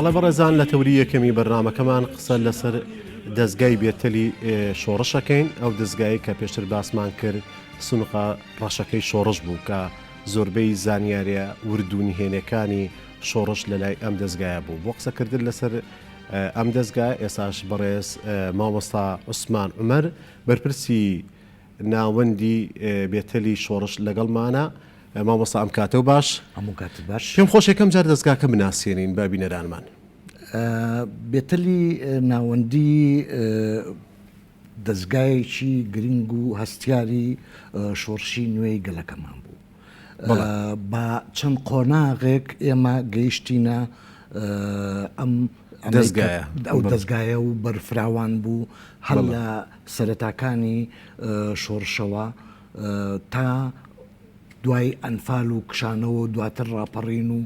بەڵێ بەڕێزان لە تەوری یەکەمی بەرنمەکەمان قسە لەسەر دەستگای بێتەلی شۆڕشەکەین ئەو دەستگای کە پێشتر باسمان کرد سنوقە ڕەشەکەی شۆڕش بوو کە زۆربەی زانیاریە وردونی هێنەکانی شۆڕش لەلای ئەم دەزگایە بوو بۆ قسەکردن لەسەر ئەم دەزگا ئێساش بەڕێز مامۆستا عوسمان عمر بەرپرسی ناوەندی بێتەلی شۆڕش لەگەڵمانە مامۆستا ئەم کاتە و باش هەموو کات باش پێم خۆش یەکەم جار دەستگاکە بناسیێنین بە بینەرانمان بێتەلی ناوەندی دەزگایەکی گرنگ و هەستیاری شۆڕشی نوێی گەلەکەمان بوو. بە چەند قۆناغێک ئێمە گەیشتینە ئەم ئەو دەستگایە و بەرفراوان بوو هەر لە سەرەتاکانی شۆڕشەوە تا دوای ئەنفال و کشانەوە و دواتر ڕاپەڕین و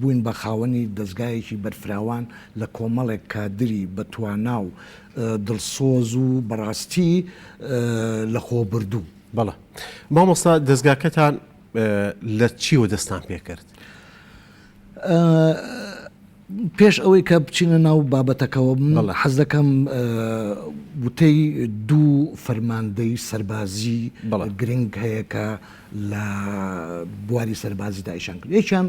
بووین بە خاوەنی دەزگایەکی بەرفراوان لە کۆمەڵێک کادری بە توانا و دڵسۆز و بەڕاستی لە خۆبوردوو. بەڵێ مامۆستا دەزگاکەتان لە چیوە دەستان پێکرد؟ پێش ئەوەی کە بچینە ناو بابەتەکەەوە من حەز دەکەم وتەی دوو فەرماندەی سەربازی گرنگ هەیە کە لە بواری سەربازی دایشان کرد یەکیان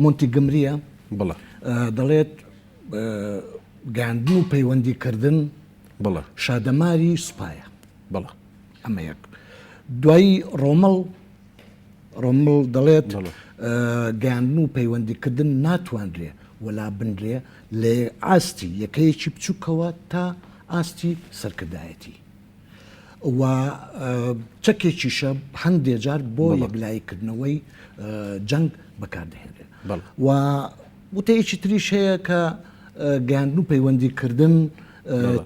مۆنتی گمریە بڵە دەڵێت گاندن و پەیوەندیکردن بڵە شادەماری سوپایە بڵە ئەمە یەک دوایی ڕۆمەڵ ڕۆمڵ دەڵێت، گەیاندن و پەیوەندیکردن ناتوانرێ وەلا بنرێ لە ئاستی یەکەیەکی بچووکەوە تا ئاستی سەرکردایەتی و چەکێکیشە هەندێ جار بۆ یەکلاییکردنەوەی جەنگ بەکاردەهێنرێن و وتەیەکی تریش هەیە کە گەیاندن و پەیوەندیکردن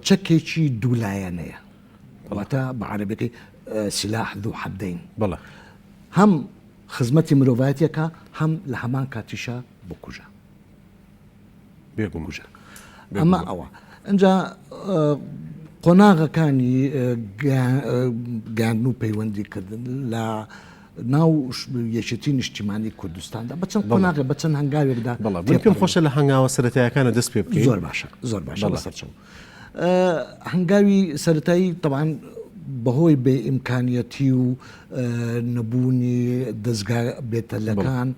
چەکێکی دوولایەنەیە. واتە بە عەرەبیەکەی سلاح ذو حدین بەڵێ هەم خزمەتی مرۆڤایەتێکە هەم لە هەمان کاتیشە بکوژە بێ بکوژە ئەمە ئەوە ئەجا قۆناغەکانی گاندن و پەیوەندیکردن لە ناو یەکێتی نیشتیمانی کوردستاندا بە چەند قۆناغ بە چەند هەنگاوێکدا بەڵام پێم خۆشە لە هەنگاوە سەرەتایەکانە دەست پێ بکەین زۆر باشە زۆر باشە لەسەر چەند هەنگاوی سەرەتایی تەبعەن بەهۆی بێ ئیمکانیەتی و نەبوونی دەزگا بێتەلەکان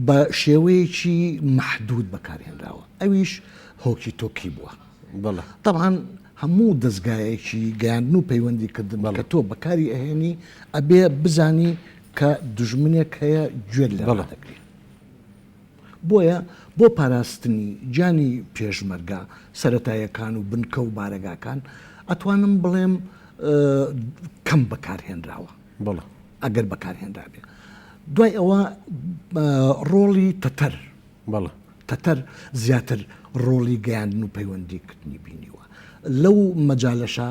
بە شێوەیەکی مەحدود بەکارهێنراوە ئەویش هۆکی تۆکی بووە تەبعاان هەموو دەستگایەکی گەیاندن و پەیوەندی کردن بەڵە تۆ بەکاری ئەهێنی ئەبێ بزانی کە دژمنێک هەیە گوێت لەڵا دەکرێت. بۆیە بۆ پاراستنی گیانی پێشمەرگە سەرەتایەکان و بنکە و بارەگاکان ئەتوانم بڵێم کەم بەکارهێنراوە بەڵێ ئەگەر بەکارهێنرابێ دوای ئەوە ڕۆڵی تەتەر بەڵێ تەتەر زیاتر ڕۆڵی گەیاندن و پەیوەندیکردنی بینیوە لەو مەجالەشە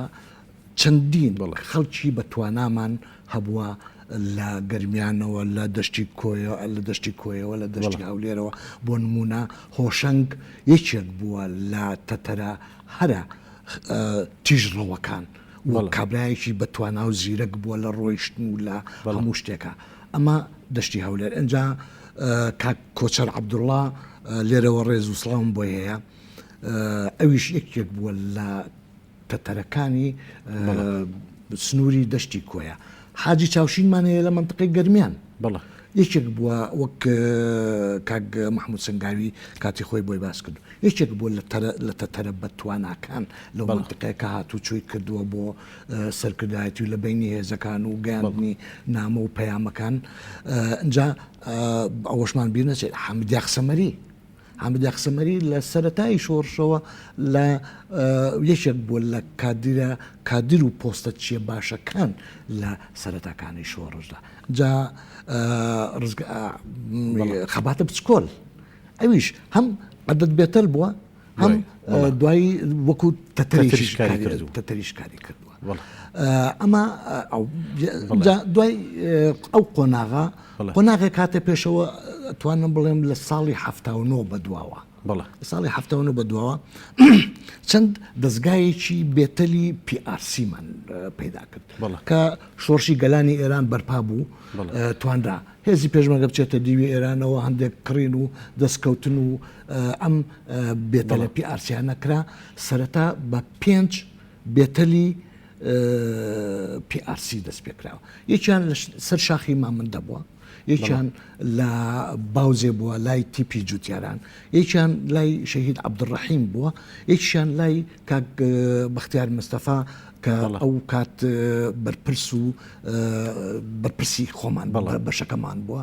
چەندین خەڵکی بە توانامان هەبووە لە گەرمیانەوە، لە دەشتی کۆیە، لە دەشتی کۆیەوە، لە دەشتی هەولێرەوە، بۆ نموونە هۆشەنگ یەکێک بووە لە تەتەرە هەرە تیژڕەوەکان و کابرایەکی بە توانا و زیرەک بووە لە ڕۆیشتن و لە هەموو شتێکە، ئەمە دەشتی هەولێر. ئینجا کاک کۆچەر عەبدوڵڵا لێرەوە ڕێز و سڵاوم بۆی هەیە، ئەویش یەکێک بووە لە تەتەرەکانی سنووری دەشتی کۆیە. حاجی چاوشینمان هەیە لە مەنتقەی گەرمیان بەڵە یەکێک بووە وەک کاک مححمود سنگاوی کاتی خۆی بۆی باس کرد یەکێک بووە لە تەتەرە بە تواناکان لە بەڵتقەکە هاتوو چۆی کردووە بۆ سەرکردایەتی و لە بینی هێزەکان و گەیاندنی نامە و پەیامەکان ئەجا ئەوەشمان بیر نەچێت حەمدیاخ سەمەری حامد یاخسەمەری لە سەرەتای شۆڕشەوە لە یەکێک بووە لە کادرە کادر و پۆستە چیە باشەکان لە سەرەتاکانی شۆڕشدا جا خەباتە بچکۆل ئەویش هەم عدد بێتەر بووە هەم دوایی وەکو تەتەریش کاری کردووە ئەمە دوای ئەو قۆناغا قۆناغێک هاتە پێشەوە توانم بڵێم لە ساڵی حەفتا و نۆ بەدواوە بەڵێ لە ساڵی حەفتا و نۆ بەدواوە چەند دەستگایەکی بێتەلی پیئارسیمان پەیدا کرد بەڵێ کە شۆڕشی گەلانی ئێران بەرپا بوو بەڵێ ئە، توانرا هێزی پێشمەرگە بچێتە دیوی ئێرانەوە هەندێک کڕین و دەستکەوتن و ئەم بەڵێ. بێتەلە پیئارسیانە کرا سەرەتا بە پێنج بێتەلی PRC دەست پێکراوە یەکیان لە سەر شاخی مامندە بووە یەکیان لە باوزێ بووە لای تیپی جوتیاران یەکیان لای شەهید عبدڕحیم بووە یەکشان لای کاک بەختیار مستەفا کە ئەو کات بەرپرس و بەرپرسی خۆمان بەڵە بەشەکەمان بووە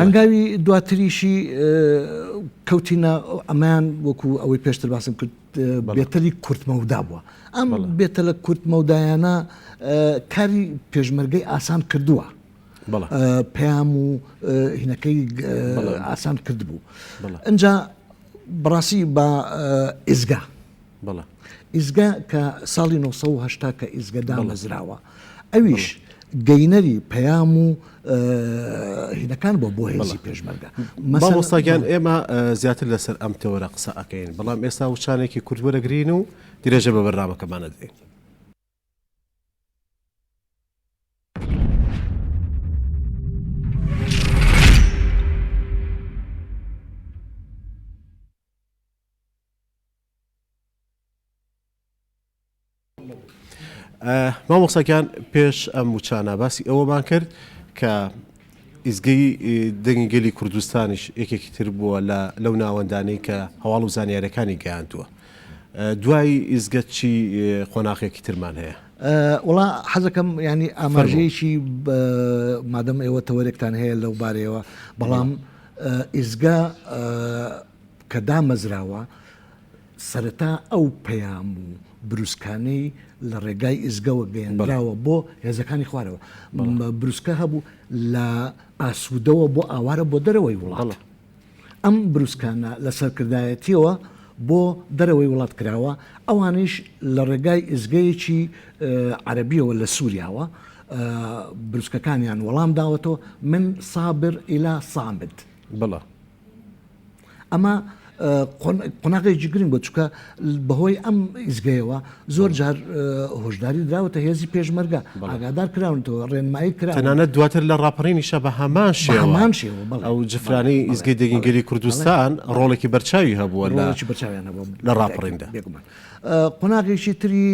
هەنگاوی دواتریشی کەوتینە ئەمەیان وەکو ئەوەی پێشتر باسم کرد بێتەلی کورتمەودا بووە ئەم بێتە لە کورتمەودایانە کاری پێشمەرگەی ئاسان کردووە پەیام و هینەکەی ئاسان کرد بوو ئەجا بڕاستی بە ئێزگا بەڵێ ئیزگە کە ساڵی نۆ سەد و هەشتا کە ئیزگە دامەزراوە ئەویش گەینەری پەیام و هینەکان بۆ بۆ هێزی پێشمەرگە مەسەڵستاگیان ئێمە زیاتر لەسەر ئەم تەوەرە قسە ئەەکەین بەڵام ئێستا وچانێکی کوردوەرەگرین و درێژە بە بەرنامەکەمانە دێن مامۆستا گیان پێش ئەم وچانە باسی ئەوەمان کرد کە ئیزگەی دەنگی گەلی کوردستانیش یەکێکی تر بووە لە لەو ناوەندانەی کە هەواڵ و زانیارەکانی گەیاندووە دوای ئیزگە چی قۆناخێکی ترمان هەیە وڵا حەزەکەم ینی ئاماژەیەکی مادەم ئێوە تەوەرێکتان هەیە لەو بارەیەوە بەڵام ئیزگە کە دامەزراوە، سەرەتا ئەو پەیام و بروسکانەی لە ڕێگای ئیزگەوە گەیەنراوە بۆ هێزەکانی خوارەوە بروسکە هەبوو لە ئاسوودەوە بۆ ئاوارە بۆ دەرەوەی وڵاڵە ئەم بروسکانە لە سەرکردایەتیەوە بۆ دەرەوەی وڵات کراوە ئەوانیش لە ڕێگای ئزگەیەکی عەربیەوە لە سووریاوە بروسکەکانیان وەڵام داوەتەوە من سابر ئیلا سامد بڵە ئەمە قۆناغێکی گرنگ بوو چکە بەهۆی ئەم ئیزگەیەوە زۆر جار هۆشداری دراوەتە هێزی پێشمەرگە ئاگادار کراونەوە ڕێنمایی کرا تەنانەت دواتر لە ڕاپەڕینی شە بە هەمان شێمان شێوە ئەو جفرانی ئیزگەی دەگینگەلی کوردستان ڕۆڵێکی بەرچاوی هەبووە لە لە ڕاپەڕیندا قۆناغێکی تری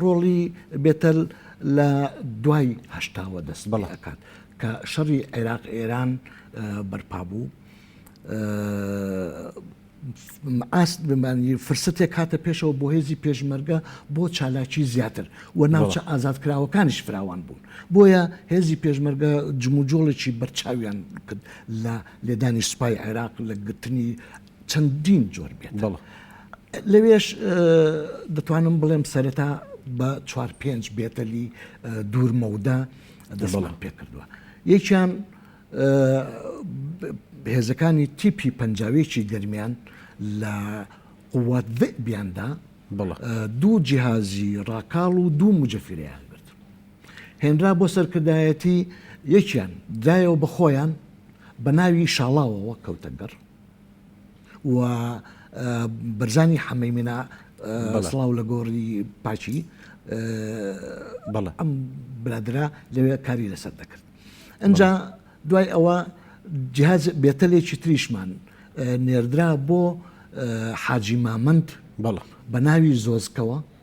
ڕۆڵی بێتەل لە دوای هەشتاوە دەست بەڵەکات کە شەڕی عێراق ئێران بەرپا بوو ئاست بمانی فرسەتێک کاتە پێشەوە بۆ هێزی پێشمەرگە بۆ چالاکی زیاتر و ناوچە ئازادکراوەکانیش فراوان بوون بۆیە هێزی پێشمەرگە جموجۆڵێکی بەرچاویان کرد لە لێدانی سوپای عێراق لە گرتنی چەندین جۆر بێت لەوێش دەتوانم بڵێم سەرەتا بە چوار پێنج بێتەلی دوورمەودا دەسڵان پێکردووە یەکیان هێزەکانی تیپی پەنجاوێکی گەرمیان لە قووات بیاندا دوو جیهازی ڕاکاڵ و دوو مجەفرەیان گرت هێنرا بۆ سەرکردایەتی یەکیان دایەوە بە خۆیان بە ناوی شاڵاوەوە کەوتەگەڕ و بەرزانی حەمەی منا سڵاو لە گۆڕی پاچی بەڵێ ئەم برادرا لەوێ کاری لەسەر دەکرد ئەجا دوای ئەوە جهاز بێتەلێکی تریشمان نێردرا بۆ حاجی مامند بەڵ بە ناوی زۆزکەوە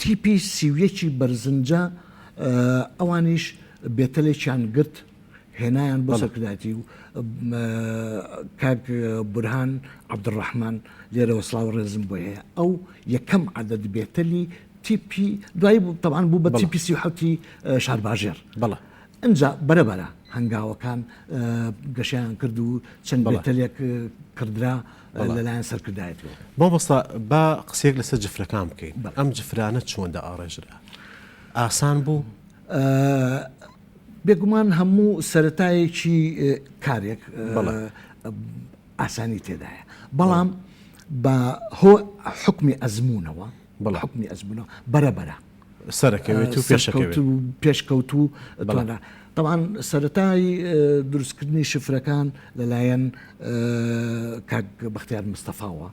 تیپی سی و یەکی بەرزنجە ئەوانیش بێتەلێکیان گرت هێنایان بۆ سەرکردایەتی و کاک بورهان عەبدوڕەحمان لێرەوە سڵاو و ڕێزم بۆی هەیە ئەو یەکەم عەدەد بێتەلی تیپی دوای بوو تەوان بوو بە تیپی سی و حەوتی شارباژێر بەڵێ ئەجا بەرەبەرە هەنگاوەکان گەشیان کرد و چەند بێتەلێک کردرا لەلایەن سەرکردایەتیەوە. مامۆستا با قسەیەک لەسەر جفرەکان بکەین ئەم جفرانە چۆن دائاڕێژرا ئاسان بوو؟ بێگومان هەموو سەرەتایەکی کارێک ئاسانی تێدایە بەڵام بە هۆ حکمی ئەزمونونەوە بەڵ حکمی ئەزمونە بەرەبەرە سەرەکەوێت و پێشەکەوێت. پێشکەوتوو توانا. تەبعەن سەرەتای دروستکردنی شفرەکان لەلایەن کاک بەختیار مستەفاوە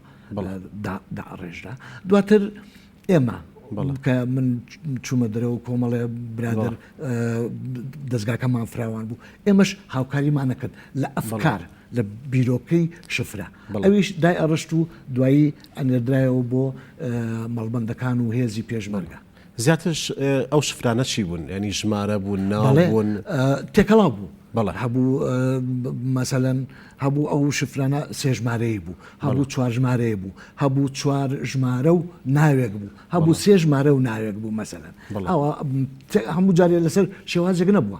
دائەڕێژرا. دواتر ئێمە کە من چوومە دەرەوە و کۆمەڵێ برادەر دەزگاکەمان فراوان بوو. ئێمەش هاوکاریمان نەکرد لە ئەفکار. لە بیرۆکەی شفرە ئەویش دای ئەڕشت و دوایی ئەنێردرایەوە بۆ مەڵبەندەکان و هێزی پێشمەرگە. زیاترش ئەو شفرانە چی بوون ینی ژمارە بوون ناڵێن تێکەڵا بوو بەڵە هەبوو مەسەەن هەبوو ئەو شفرانە سێژمارەیە بوو هەبوو چوار ژمارەیە بوو هەبوو چوار ژمارە و ناوێک بوو هەبوو سێژمارە و ناوێک بوو مەسەەن ئەوە هەموو جارێ لەسەر شێوازێک نەبووە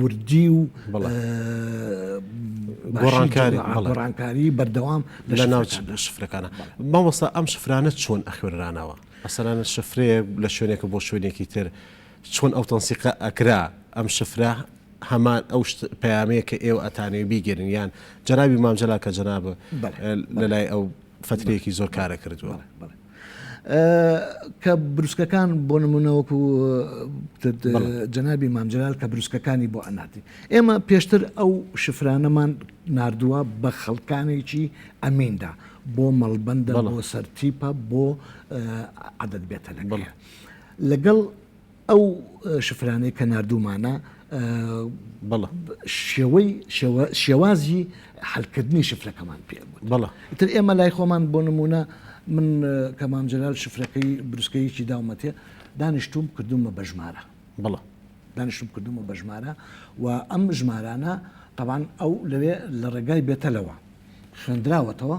وردی و گۆڕانکاری بەردەوام لە ناو شفرەکانە مامۆستا ئەم شفرانە چۆن ئەخوێنرانەوە ئەسەرانە شفرەیە لە شوێنێکە بۆ شوێنێکی تر چۆن ئەو تەنسیقە ئەکرا ئەم شفرە هەمان ئەو پامەیە کە ئێوە ئەتانێ بیگەرن یان جەنابی مامجللا کە جەناب لە لای ئەو فترەیەکی زۆر کارە کردووە. کە بروسکەکان بۆ نمونە وەکو جەنابی مامجلال کە بروسکەکانی بۆ ئەناتی ئێمە پێشتر ئەو شفرانەمان نردووە بە خەڵکانێکی ئەمیندا بۆ مەڵبندە بۆ سەرتیپە بۆ عادەت بێتە لەگەڵ لەگەڵ ئەو شفرانەی کە ناردوومانە بەڵە شێوەی شێوازی حلکردنی شفرەکەمان پێ بەڵە تر ئێمە لای خۆمان بۆ نمونە من کەمام جلال شفرەکەی بروسکەیەکی داومەتێ دانیشتوم کردومە بە ژمارە بەڵە دانیشتم کردومە بە ژمارە و ئەم ژمارانە طبعاان ئەو لەوێ لە ڕێگای بێتەلەوە خوێندراوەتەوە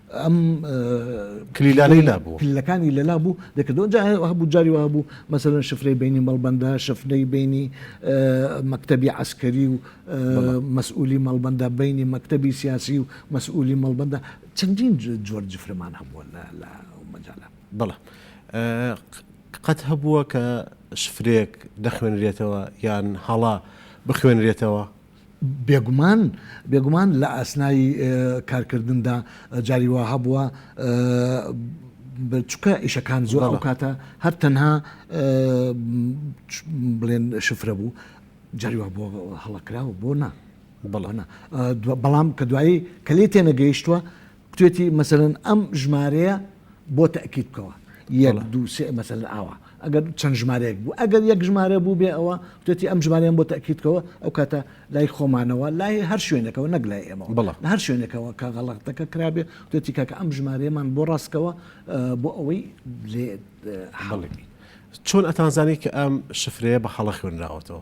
ئەم کلیلانەی لابوو کلیلەکانی لەلا بوو دەکردەوە جا هەبوو جاری وا بوو مەسەرەن شفرەی بینی مەڵبەندە شفرەی بینی مەکتەبی عسکەری و مەسئولی مەڵبەندە بینی مەکتەبی سیاسی و مەسئولی مەڵبەندە چەندین جۆر جفرەمان هەبووە لە مەجاالە بەڵە قەت هەبووە کە شفرێک دەخوێنرێتەوە یان هەڵا بخوێنرێتەوە بێگومان بێگومان لە ئاسنای کارکردندا جاری وا هەبووە چکە ئیشەکان زۆر ئەو کاتە هەر تەنها بڵێن شفرە بوو جاری وا بۆ هەڵەکراوە بۆ نا بەڵانە بەڵام کە دوایی کە لێ تێنەگەیشتووە گوتوێتی مەسەلەن ئەم ژمارەیە بۆ تەکیت بکەوە یەک بەڵێ. دوو سێ مەسەلەن ئاوا ئەگەر چەند ژمارەیەک بوو ئەگەر یەک ژمارە بوو بێ ئەوە گوتوێتی ئەم ژمارەیەم بۆ تەکیت بکەوە ئەو کاتە لای خۆمانەوە لای هەر شوێنێکەوە نەک لای ئێمەوە بەڵێ. لە هەر شوێنێکەوە کە غەڵەتەکە کرابێ گوتوێتی کاکە ئەم ژمارەیەمان بۆ ڕاست بکەوە ئە، بۆ ئەوەی لێ ئە، حاڵی بین. چۆن ئەتانزانی کە ئەم شفرەیە بە هەڵە خوێنراوەتەوە؟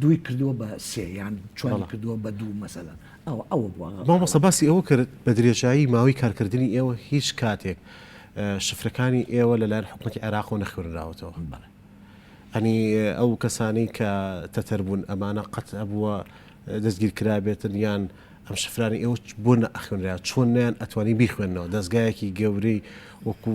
دووی کردووە بە سێ یان چواری بەڵێ. کردووە بە دوو مەسەلەن ئەوە ئەوە بووە مامۆستا باسی ئەوە کرد بە درێژایی ماوەی کارکردنی ئێوە هیچ کاتێک اه، شفرەکانی ئێوە لە لایەن حکومەتی عێراقەوە نەخوێنراوەتەوە بەڵێ ئەنی ئەو کەسانەی کە تەتەر بوون ئەمانە قەت هەبووە اه، دەستگیر کرابێتن یان ئەم شفرانەی ئێوە چ- بۆ نەئەخوێنرا چۆن نەیان ئەتوانی بیخوێنەوە دەزگایەکی گەورەی وەکو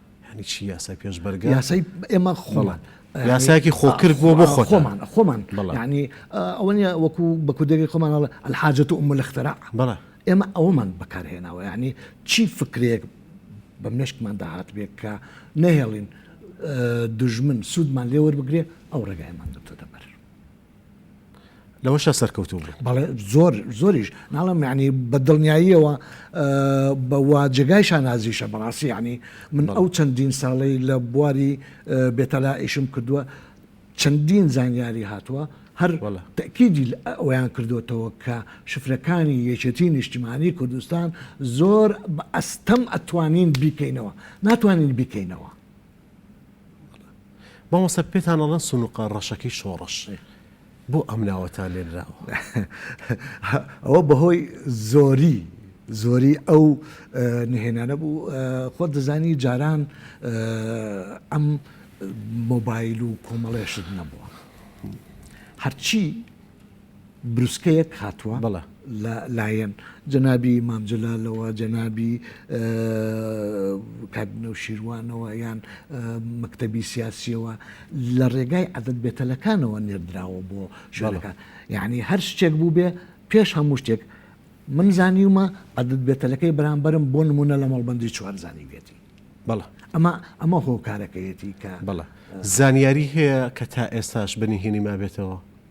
یانی چی یاسای پێشمەرگە؟ یاسای ئێمە خۆمان یاسایەکی خۆکرد بۆ بۆ خۆ خۆمان خۆمان ینی ئەوە نیە وەکو بە کوردێکی خۆمان الحاجە و ملخترا بەڵێ ئێمە ئەومان بەکارهێناوە ینی چی فکرێک بە مشکمان داهات بێت کە نەهێڵین دژمن سوودمان لێوەربگرێ ئەو ڕێگایمان دەتۆ دەبەر لەوەشە سەرکەوتوو بوو بەڵێ زۆر زۆریش ناڵم یعنی بە دڵنیاییەوە بەوا جێگای شانازیشە بەڕاستی ینی من ئەو چەندین ساڵی لە بواری بێتەلا ئیشم کردووە چەندین زانیاری هاتووە هەر تەکیدی ئەویان کردوێتەوە کە شفرەکانی یەکێتی نیشتیمانی کوردستان زۆر ئەستەم ئەتوانین بیکەینەوە ناتوانین بیکەینەوە مامۆستا پێتان ئەڵێن سونوقە ڕەشەکەی شۆڕش بۆ ئەم ناوەتان لێنراوە؟ ئەوە بەهۆی زۆری زۆری ئەو نهێنانە بوو خۆت دەزانی جاران ئەم مۆبایل و کۆمەڵێشت نەبووە هەرچی بروسکەیەک هاتووە لە لایەن جەنابی مام جەلالەوە، جەنابی کاک نەوشیروانەوە یان مەکتەبی سیاسیەوە لە ڕێگای عەدەد بێتەلەکانەوە نێردراوە بۆ شوێنەکان یاعنی هەر شتێک بووبێ پێش هەموو شتێک من زانیومە عەدەد بێتەلەکەی بەرامبەرم بۆ نمونە لە مەڵبەندی چوار زانیویەتی بەڵێ ئەمە ئەمە هۆکارەکەیەتی کە بەڵێ زانیاری هەیە کە تا ئێستاش بەنهێنی مابێتەوە؟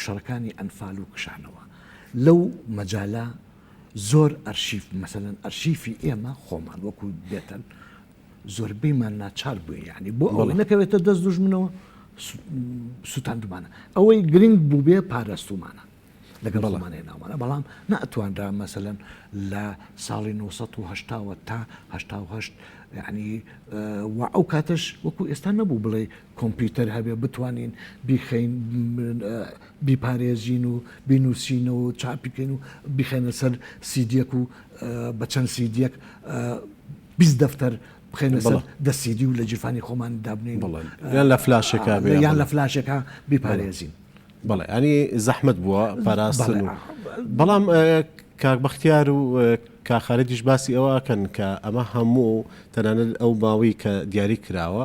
شەڕەکانی ئەنفال و کشانەوە لەو مەجالە زۆر ئەرشیف مەسەن ئەرشیفی ئێمە خۆمان وەکو بێتەن زۆربەیمان ناچار بووین یعنی بۆ ئەوە نەکەوێتە دەست دوژمنەوە سووتاندمانە ئەوەی گرنگ بوو بێ پاراستومانە لەگەڵ بەڵمانەیە ناوانە بەڵام ناتوانرا مەسەن لە ساڵی 1970 تاهه ینی و ئەو کاتش وەکو ئێستا نەبوو بڵێ کۆمپیوتەر هەبێ بتوانین بیخەین بیپارێزین و بینوسینەوە و چاپی کەین و بیخەینە سەر سیدیەک و بە چەند سیدیەک بیست دەفتەر بخێنە سەر دەسیدی و لە جیرفانی خۆمان دابنین یان لە فلاشەکە یان لە فلاشەکە بیپارێزین بەڵێ ئەنی زەحمت بووە پاراستن بەڵام کاک بەختیار و کاخارەتیش باسی ئەوەکەن کە ئەمە هەموو تەنانەت ئەو باوەی کە دیاری کراوە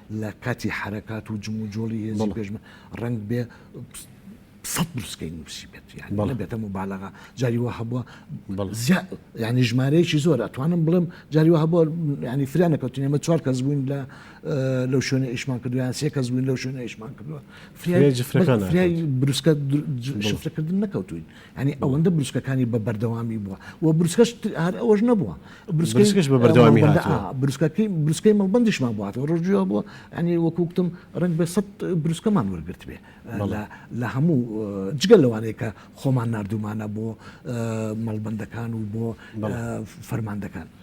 لە کاتی حرەکات و جم و جۆڵی هێزی پێشمە ڕنگ بێ سە بروسکەی نووسی بێت یانە بێتە مبالغا جاری وە هەبووە ینی ژمارەیەکی زۆر ئەتوانم بڵێم جاری وە هەبووە ینی فریانە کەوتین ئمە چوار کەس بووین لە لەو شوێنە ئیشمان کردویان سێ کەس بووین لەو شوێنە ئیشمان کردووە فریای بروسکە شفرەکردن نەکەوتوین یانی ئەوەندە بروسکەکانی بە بەردەوامی بووە و بروسکەش هەر ئەوەش نەبووە بروسکەش بە بەردەوامی بروسکەکەی بروسکەی مەڵبندیشمان بواتەوە ڕۆژیوە بووە ئەنی وەکوکتم ڕنگ بە سە بروسکەمان وەرگرت بێ لە هەموو جگە لەوانەیە کە خۆمان نردومانە بۆ مەڵبندەکان و بۆ فەرماندەکان.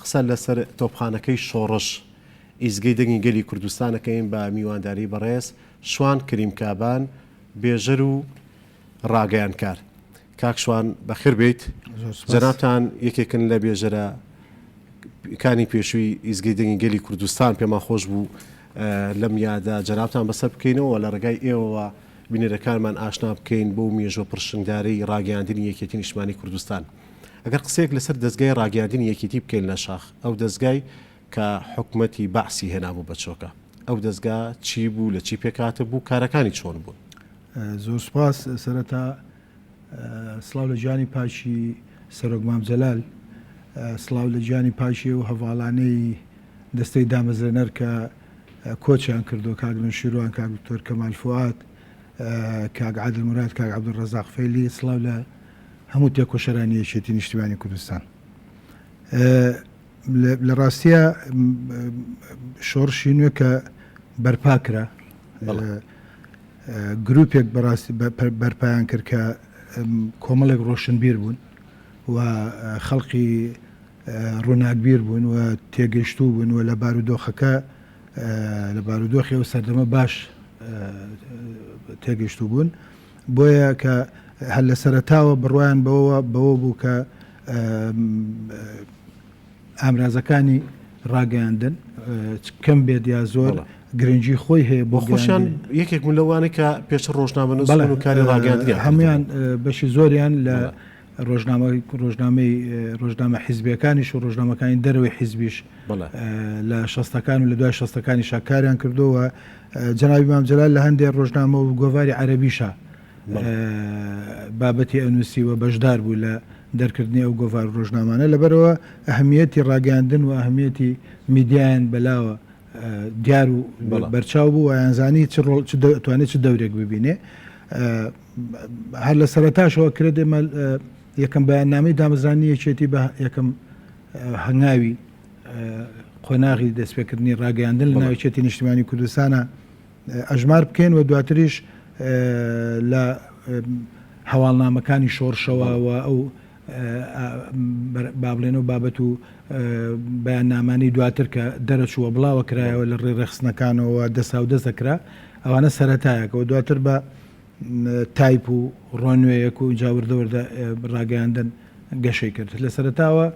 قسە لەسەر تۆپخانەکەی شۆڕش ئیزگەی دەنگی گەلی کوردستان ئەکەین بە میوانداری بەڕێز شوان کریم کابان بێژەر و ڕاگەیانکار کاک شوان بەخێر بێیت جەنابتان یەکێکن لە بێژەرە کانی پێشووی ئیزگەی دەنگی گەلی کوردستان پێمان خۆش بوو لەم یادە جەنابتان بەسەر بکەینەوە لە ڕێگای ئێوەوە بینەرەکانمان ئاشنا بکەین بۆ مێژوە پرشنگدارەی ڕاگەیاندنی یەکێتی نیشتمانی کوردستان. ئەگەر قسەیەک لەسەر دەزگای ڕاگەیاندنی یەکێتی بکەین لە شاخ، ئەو دەزگای کە حکومەتی بەعسی هێنابوو بە چۆکە، ئەو دەزگا چی بوو، لە چی پێکهاتبوو، کارەکانی چۆن بوون؟ زۆر سوپاس، سەرەتا سڵاو لە جانی پاکی سەرۆک مام جەلال، سڵاو لە جانی پاکی ئەو هەڤاڵانەی دەستەی دامەزرێنەر کە کۆچیان کردووە، کاک نەوشیروان، کاک دکتۆر کەمال فوئاد، کاک عادل موراد، کاک عەبدولڕەزاق فەیلی، سڵاو لە. هەموو تێکۆشەرانی یەکێتی نیشتیمانی کوردستان لە ڕاستیە شۆڕشی نوێ کە بەرپا کرا گروپێک بەڕاستی بەرپیان کرد کە کۆمەڵێک ڕۆشنبیر بوون و خەڵقی ڕووناکبیر بوون و تێگەشتوو بوون و لە بارودۆخەکە لە بارودۆخی ئەو سەردەمە باش تێگەشتوو بوون بۆیە کە هەر لە سەرەتاوە بڕوایان بەوە بەوە بوو کە ئامرازەکانی ڕاگەیاندن کەم بێت یا زۆر گرنگجی خۆی هەیە بۆ خۆشیان یەکێک من لەوانە کە پێش ڕۆژنامەن و کاری ڕاگەاندنی هەمویان بەشی زۆریان لە ڕۆژنامە ڕۆژنامەی ڕۆژنامە حیزبەکانیش و ڕۆژنامەکانی دەرەوەی حیزبیش لە شەستەکان و لە دوای شەستەکانی شاکاریان کردووە جەنابی مام جەلال لە هەندێ ڕۆژنامە و گۆڤاری عەرەبیشا بابەتی ئەنووسی و بەشدار بوو لە دەرکردنی ئەو گۆڤار و ڕۆژنامانە لەبەرەوە ئەهمیەتی ڕاگەیاندن و ئەهمیەتی میدیایان بەلاوە دیار و بەرچاو بوو ویانزانی چ ڕۆڵ توانێت چ دەورێک ببینێ هەر لە سەرتاشەوە کرێت ئێمە یەکەم بەیاننامەی دامەزرانی یەکێتی بە یەکەم هەنگاوی قۆناغی دەستپێکردنی ڕاگەیاندن لە ناوچەتی نیشتمانی کوردستانە ئەژمار بکەین و دواتریش لە هەواڵنامەکانی شۆڕشەوە و ئەو بابلێن و بابەت و بەیان نامانی دواتر کە دەرەچووە بڵاوە کرایەوە لە ڕێ ڕێخستنەکانەوە دەسا و دەست دەکرا ئەوانە سەتایەکەەوە دواتر بە تایپ و ڕۆنوێیەک و جاوردەوەدا ڕاگەیاندن گەشەی کرد لە سەرەتاوە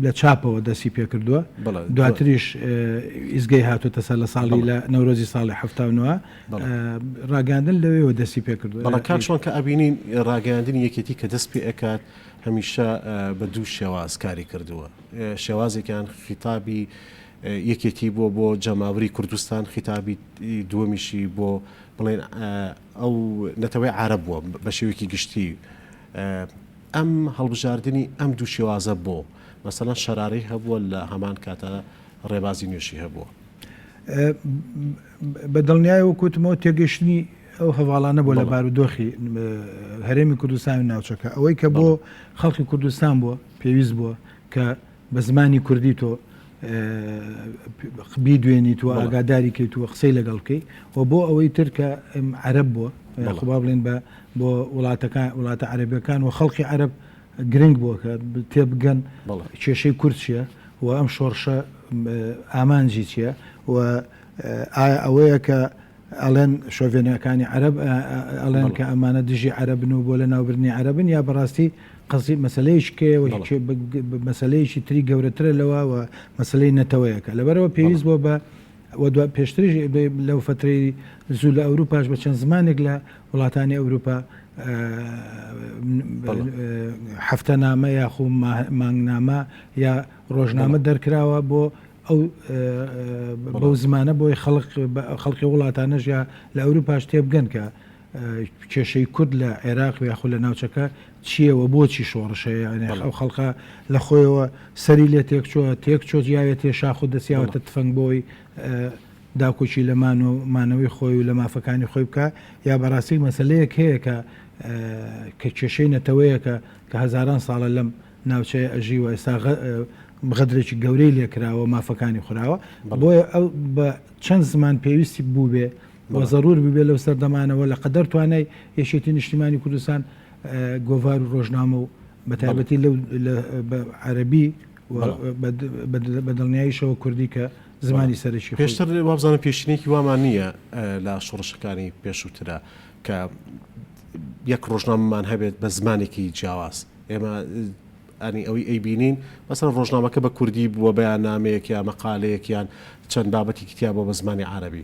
لە چاپەوە دەسی پێکردووە دواتریش ئیزگەی هاتوتە سەر لە ساڵی لە نەورۆزی ساڵی هەفتاونەوە ڕاگەاندن لەوێەوە دەسی پێکردو بەڵە کاکشۆن کە ئەبینین ڕاگەاندنی یەکێتی کە دەست پێ ئەکات هەمیشە بە دوو شێواز کاری کردووە شێوازێکیان خیتابی یەکێتی بۆ بۆ جەماوری کوردستان خیتابی دووەمیشی بۆ بڵێن ئەو نەتەوەی عارەب بووە بە شێوەیەکی گشتی ئەم هەڵبژاردنی ئەم دوو شێوازە بۆ؟ مەسەلەن شەرارەی هەبووە لە هەمان کاتە ڕێبازی نوێشی هەبووە. بە دڵنیای وەک وتمەوە تێگەشتنی ئەو هەواڵانە بۆ لە بارودۆخی هەرێمی کوردستان و ناوچەکە ئەوەی کە بۆ خەڵکی کوردستان بووە پێویست بووە کە بە زمانی کوردی تۆ بیدوێنیت و ئاگاداری کەیت و قسەی لەگەڵ بکەی و بۆ ئەوەی ترکە عرب بووە خۆبا بڵێن بە بۆ وڵاتەکان وڵاتە عربەکان و خەڵکی عرب گرنگ بووە کە تێبگەن کێشەی کورد چیە و ئەم شۆڕشە ئامانجی چیە و ئایا ئەوەیە کە ئەڵێن شۆڤێنەکانی عرب ئەڵێن کە ئەمانە دژی عربن و بۆ لە ناوبرنی عربن یا بەڕاستی قەزیە مەسەلەیەکی کەیە و هیچ مەسەلەیەکی تری گەورەترە لەوە و مەسەلەی نەتەوەیەکە لەبەرەوە پێویست بۆ بە و دو پێشتریش لەو فترەی زوو لە ئەوروپاش بە چەند زمانێک لە وڵاتانی ئەوروپا هەفتە نامە یاخو مانگنامە یا ڕۆژنامە دەرکراوە بۆ ئەو بەو زمانە بۆی خەڵق خەڵکی وڵاتانەش یا لە ئەوروپاش تێبگەن کە کێشەی کورد لە عێراق و یاخود لە ناوچەکە چییە و بۆچی شۆڕش هەیە یانێ بەڵێ. ئەو خەڵکە لە خۆیەوە سەری لێ تێک چووە تێک چۆت یاوێ تێ شاخ و دەستیاوەتە بەڵێ. تفەنگ بۆی داکۆکی لە مان و مانەوەی خۆی و لە مافەکانی خۆی بکا یا بەڕاستی مەسەلەیەک هەیە کە کە کێشەی نەتەوەیەکە کە هەزاران ساڵە لەم ناوچەیە ئەژی و ئێستا غە غەدرێکی گەورەی لێ کراوە مافەکانی خوراوە بەڵێ. بۆیە ئەو بە چەند زمان پێویستی بووبێ و زەرور ببێت لەو سەردەمانەوە لە قەدەر توانای یەکێتی نیشتیمانی کوردستان گۆڤار و ڕۆژنامە و بە تایبەتی لەو بە عەربی بە دڵنیاییشەوە کوردی کە زمانی سەرەکی پێشتر وابزانم پێشینێکی وامان نییە لە شۆڕشەکانی پێشووترا کە یەک ڕۆژنامەمان هەبێت بە زمانێکی جیاواز ئێمە ئەنی ئەوەی ئەی بینین مەسەر ڕۆژنامەکە بە کوردی بووە بەیان نامەیەک یا مەقالەیەکیان چەند بابەتێکی تیا بۆ بە زمانی عربی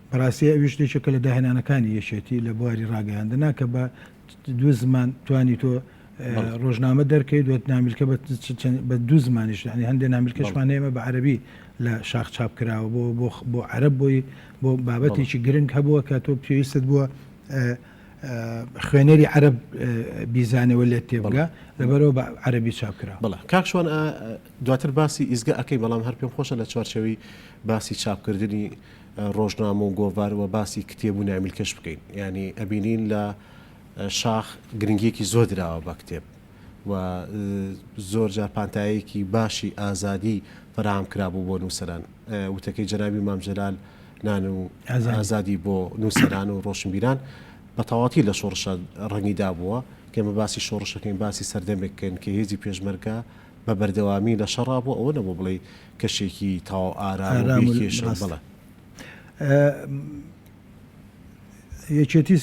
بەڕاستی ئەویش یەکێکە لە داهێنانەکانی یەکێتی لە بواری ڕاگەیاندنا کە بە دوو زمان توانی تۆ ڕۆژنامە دەرکەی دوێت نامیلکە بە دوو زمانیش ینی هەندێک نامیلکەشمان هەیەمە بە عەربی لە شاخ چاپ کراوە بۆ بۆ عەرب بۆی بۆ بابەتێکی گرنگ هەبووە کە تۆ پێویستت بووە خوێنەری عەرب بیزانەوە لێت تێبگە لەبەرەوە بە عەربی چاپ کرا بڵە کاکشوان دواتر باسی ئیزگە ئەەکەی بەڵام هەر پێم خۆشە لە چوارچەوی باسی چاپکردنی ڕۆژنامە و گۆڤار وە باسی کتێب و نایملکەش بکەین یانی ئەبینین لە شاخ گرنگیەکی زۆر دراوە بە کتێب و زۆر جار پانتایەکی باشی ئازادی فراهام کرابوو بۆ نووسەران وتەکەی جەنابی مامجلال نان و ئازادی بۆ نووسەران و ڕۆشنبیران بە تەواتی لە شۆڕشە ڕەنگی دابووە کێمە باسی شۆڕشەکەین باسی سەردەمێککەین کە هێزی پێشمەرگە بە بەردەوامی لە شەڕا بۆ ئەوە نەبوو بڵێی کەشێکی تەواو ئارام و بێ کێشە و بەڵێ. یەکێتی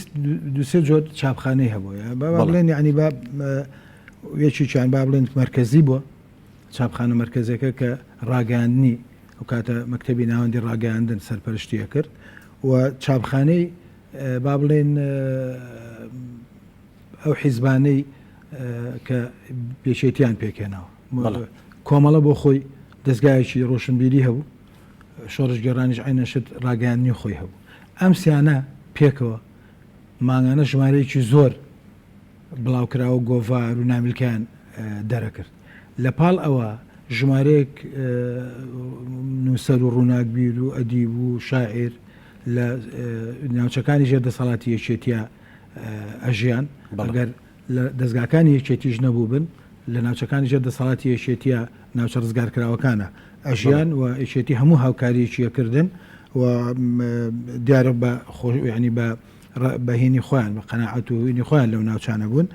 دو سێ جۆر چاپخانەی هەبووە با با بڵێن یعنی با یەکێکیان با بڵێن مەرکەزی بووە چاپخانە مەرکەزەکە کە ڕاگەاندنی ئەو کاتە مەکتتەبی ناوەندی ڕاگەاندن سەرپەرشتیە کرد و چاپخانەی با بڵێن ئەو حیزبانەی کە یەکێتیان پێکهێناوە کۆمەڵە بۆ خۆی دەستگایەکی ڕۆشنبیری هەبوو شۆڕشگێڕانیش عینە شت ڕاگەیاندنی خۆی هەبوو ئەم سیانە پێکەوە مانگانە ژمارەیەکی زۆر بڵاوکراوە گۆڤار و نامیلکەیان دەرەکرد لە پاڵ ئەوە ژمارەیەک نووسەر و ڕووناکبیر و ئەدیب و شاعیر لە ناوچەکانی ژێر دەسەڵاتی یەکێتیە ئەژیان بەڵگەر لە دەزگاکانی یەکێتیش نەبووبن لە ناوچەکانی ژێر دەسەڵاتی یەشێتیە ناوچە ڕزگارکراوەکانە ئەژیان و یەکێتی هەموو هاوکاریەکیەکردن و دیارە بە خۆشنی بە بەهینی خۆیان بە قەنەعەت و هینی خۆیان لەو ناوچانە بوون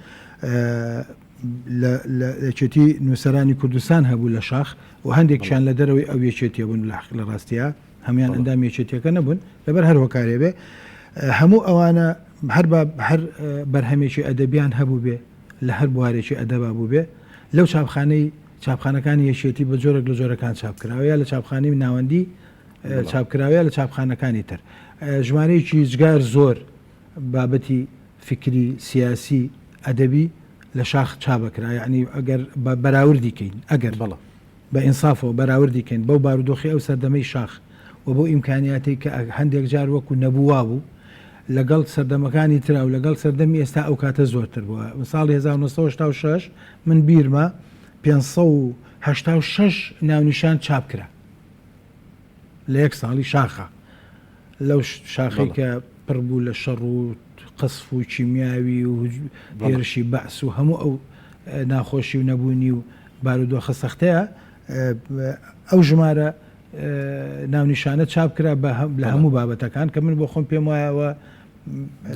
لەچێتی نووسرانی کوردستان هەبوو لە شاخ و هەندێکیان لە دەرەوەی ئەو یەکێتیە بوون لە حق لە ڕاستە هەموان ئەندامی یەکێتیەکە نەبوون لەبەر هەر هۆکارێ بێ هەموو ئەوانە هەر هەر بەرهەمێکی ئەدەبیان هەبوو بێ لە هەر بوارێکی ئەدەبا بوو بێ لەو چاپخانەی چاپخانەکانی یەکێتی بە جۆرێک لە جۆرەکان چاپکراوە یا لە چاپخانی ناوەندی چاپکراوەیە لە چاپخانەکانی تر ژمارەیەکی هیچگار زۆر بابەتی فکری سیاسی ئەدەبی لە شاخ چابکرا یعنی ئەگەر بەراوردی کەین ئەگەر بەڵە بە ئینسافەوە بەراوردی کەین بەو بارودۆخی ئەو سەردەمەی شاخ و بەو ئیمکانیاتەی کە هەندێک جار وەکو نەبوو وابوو لەگەڵ سەردەمەکانی ترا و لەگەڵ سەردەمی ئێستا ئەو کاتە زۆرتر بووە ساڵی 1986 من بیرمە 586 ناونیشان چاپ کرا لە یەک ساڵی شاخە. لەو شاخەی کە پڕ بوو لە شەڕ و قەسف و کیمیاوی و هێرشی بەعس و هەموو ئەو ناخۆشی و نەبوونی و بارودۆخە سەختەیە ئەو ژمارە ناونیشانە چاپ کرا لە هەموو بابەتەکان کە من بۆ خۆم پێم وایە ئەوە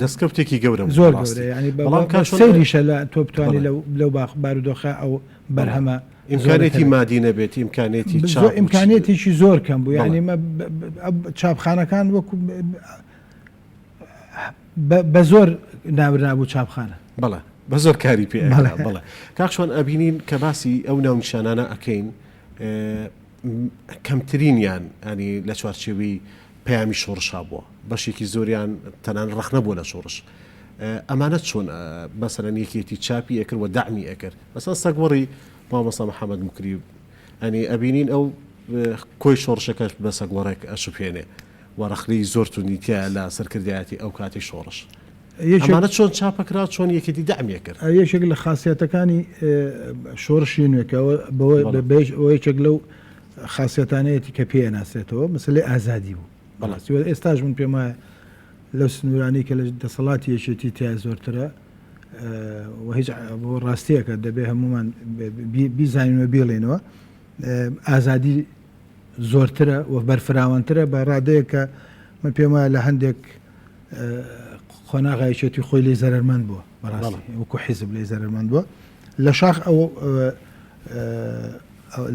دەستکەوتێکی گەورە بوو، زۆر بەڕاستی. بەڵام کە بەڵام کە چۆن- سەیریشە لە تۆ بتوانیت بەڵێ. لەو لەو باخ بارودۆخە ئەو بەرهەمە ئیمکانیەتی مادی نەبێت ئیمکانێتی ئیمکانێتێکی زۆر کەم بوو یعنی چاپخانەکان وەکو بە زۆر ناورابوو چاپخانە بەڵێ بە زۆر کاری پێ بڵێ کاکشۆن ئەبینین کە باسی ئەو ناونشانانە ئەەکەین کەمترینیان ئەنی لە چوارچێوی پەیامی شۆڕشا بووە بەشێکی زۆریان تەنان ڕخنە بووە لە شۆڕش ئەمانە چۆن بەسەرەن یەکێتی چاپی ئەکرد و دامی ئەکرد ئەسڵەن سەگ وەڕی مامۆستا محمد موکری ئەنی ئەبینین ئەو کۆی شۆڕشەکەش بە سەگ وەڕێک ئەشوپێنێ و ڕەخنەی زۆر توندی تیایە لە سەرکردایەتی ئەو کاتی شۆڕش ئەمانە چۆن چاپەکرا چۆن یەکێتی دەعمیە کرد ئەو یەکێک لە خاسیەتەکانی شۆڕشی نوێکەوە بەوەی بەش ئەو یەکێک لەو خاسیەتانەیەتی کە پێ ناسێتەوە مەسلەی ئازادی بوو بەڵاستی ئێستاش من پێم وایە لەو سنوورانەی کە لە دەسەڵاتی یەکێتی تیا زۆرترە و هیچ بۆ ڕاستیەکە دەبێ هەمومان بیزانین و بیڵێنەوە ئازادی زۆرترە و بەرفراوانترە بە ڕادەیە کە من پێم وایە لە هەندێک قۆناغایچێتی خۆی لی زەرمەند بووە بەڕاستی وەکو حیزب لی زەرمەند بووە لە شاخ ئەو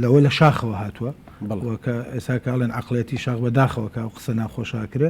لەوە لە شاخەوە هاتووە کە ئێساکەڵێن عقلەتی شاخ بەداخەوەکە و قسە ناخۆشاکرێ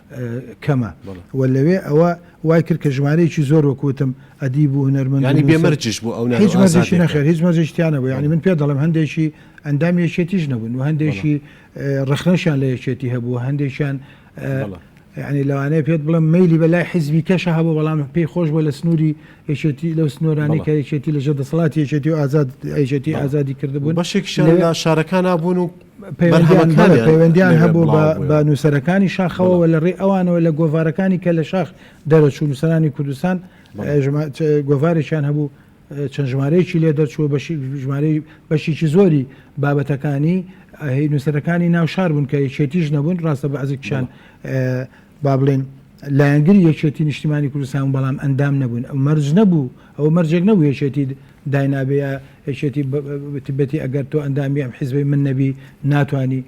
کەمە و لەوێ ئەوە وای کرد کە ژمارەیەکی زۆر وەکو وتم ئەدیب و هونەرمەند و نووسەر، یانی بێ مەرجیش بوو ئەو نانو هیچ مەرجێکی ئازادیە نەخێر هیچ مەرجێکی تیا نەبوو یانی من پێت دەڵێم هەندێکی ئەندامی یەکێتیش نەبوون و هەندێکی ڕەخنەشیان لە یەکێتی هەبوو و هەندێکیان بەڵێ یانی لەوانەیە پێت بڵێم مەیلی بە لای حیزبی کەشە هەبوو بەڵام پێی خۆش بوو لە سنووری یەکێتی لەو سنوورانەی بەڵێ کە یەکێتی لەژێر دەسەڵاتی یەکێتی و ئازاد یەکێتی بەڵێ ئازادی و کردبوون بەشێکیشیان لەوێ لە شارەکانا بوون و پەیوەندیان پەیوەندیان هەبوو بە نووسەرەکانی شاخەوەەوە لە ڕێ ئەوانەوە لە گۆڤارەکانی کە لە شاخ دەرەچوو نووسەرانی کوردستان گۆڤارێکیان هەبوو چەند ژمارەیەکی لێ دەرچووە بەشی ژمارەی بەشیی زۆری بابەتەکانی هی نووسەرەکانی ناو شار بوون کە یەکێتیش نەبوون ڕاستە بە عزیکشان با بڵێین لایەنگری یەکێتی نیشتیمانی کوردستان بوون بەڵام ئەندام نەبوون ئەو مەرج نەبوو ئەوە مەرجێک نەبوو یەکێتی داینابێ یا یەکێتی بتبێتی ئەگەر تۆ ئەندامی ئەم حیزبەی من نەبی ناتانی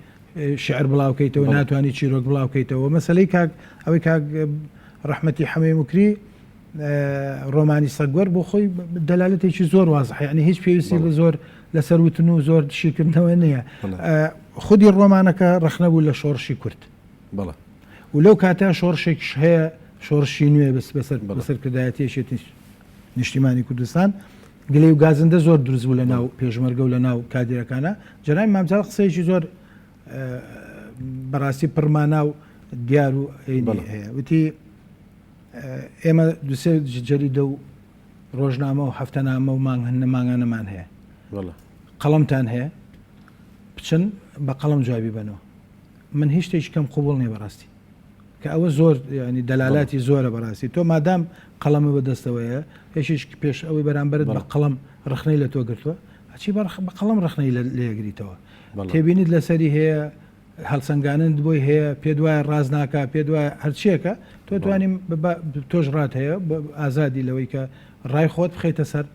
شعر بڵاوکەیتەوە ناتانی چیرۆک بڵاوکەیتەوە مەسلەی کاک ئەوەی کاک ڕحمەتی حەمەی مکری ڕۆمانی سەگوەر بۆ خۆی دەلالەتێکی زۆر وازحی ئەنی هیچ پێویستی بە زۆر لەسەر وتن و زۆر شیکردنەوە نییە خودی ڕۆمانەکە ڕخنەبوو لە شۆڕشی کورد بەڵێ و لەو کاتە شۆڕشێکیش هەیە شۆڕشی نوێ بەس بەسەر بەڵێ. سەرکردایەتی یەکێتی نیشتیمانی کوردستان گلەی و گازندە زۆر دروست بوو لە ناو پێشمەرگە و لە ناو کادیرەکانە جەنابی مامجەڵ قسەیەکی زۆر اه، بەڕاستی پڕمانا و دیار و عینی بەڵێ. هەیە وتی اه، ئێمە دوسێ ج- جەریدە و ڕۆژنامە و هەفتەنامە و مانگ هەن- مانگانەمان هەیە بەڵێ. قەڵەمتان هەیە بچن بە قەڵەم جوابی بەنەوە من هیچ شتێکی کەم قوبوڵ نیە بەڕاستی کە ئەوە زۆر ینی دەلالاتی زۆرە بەڕاستی تۆ مادام قەڵەمە بەدەستەوەیە پێشش پێش ئەوەی بەرامبەرت بە قەڵم ڕخنەی لە تۆ گرتووە ئەچی بە قەڵم ڕخنەی لێگریتەوە تێبینیت لەسەری هەیە هەڵسەنگانند بۆی هەیە پێ دوایە ڕاز ناکە پێ دوایە هەرچیەکە تۆ توانیم تۆش ڕات هەیە ئازادی لەوەی کە ڕای خۆت بخیتە سەر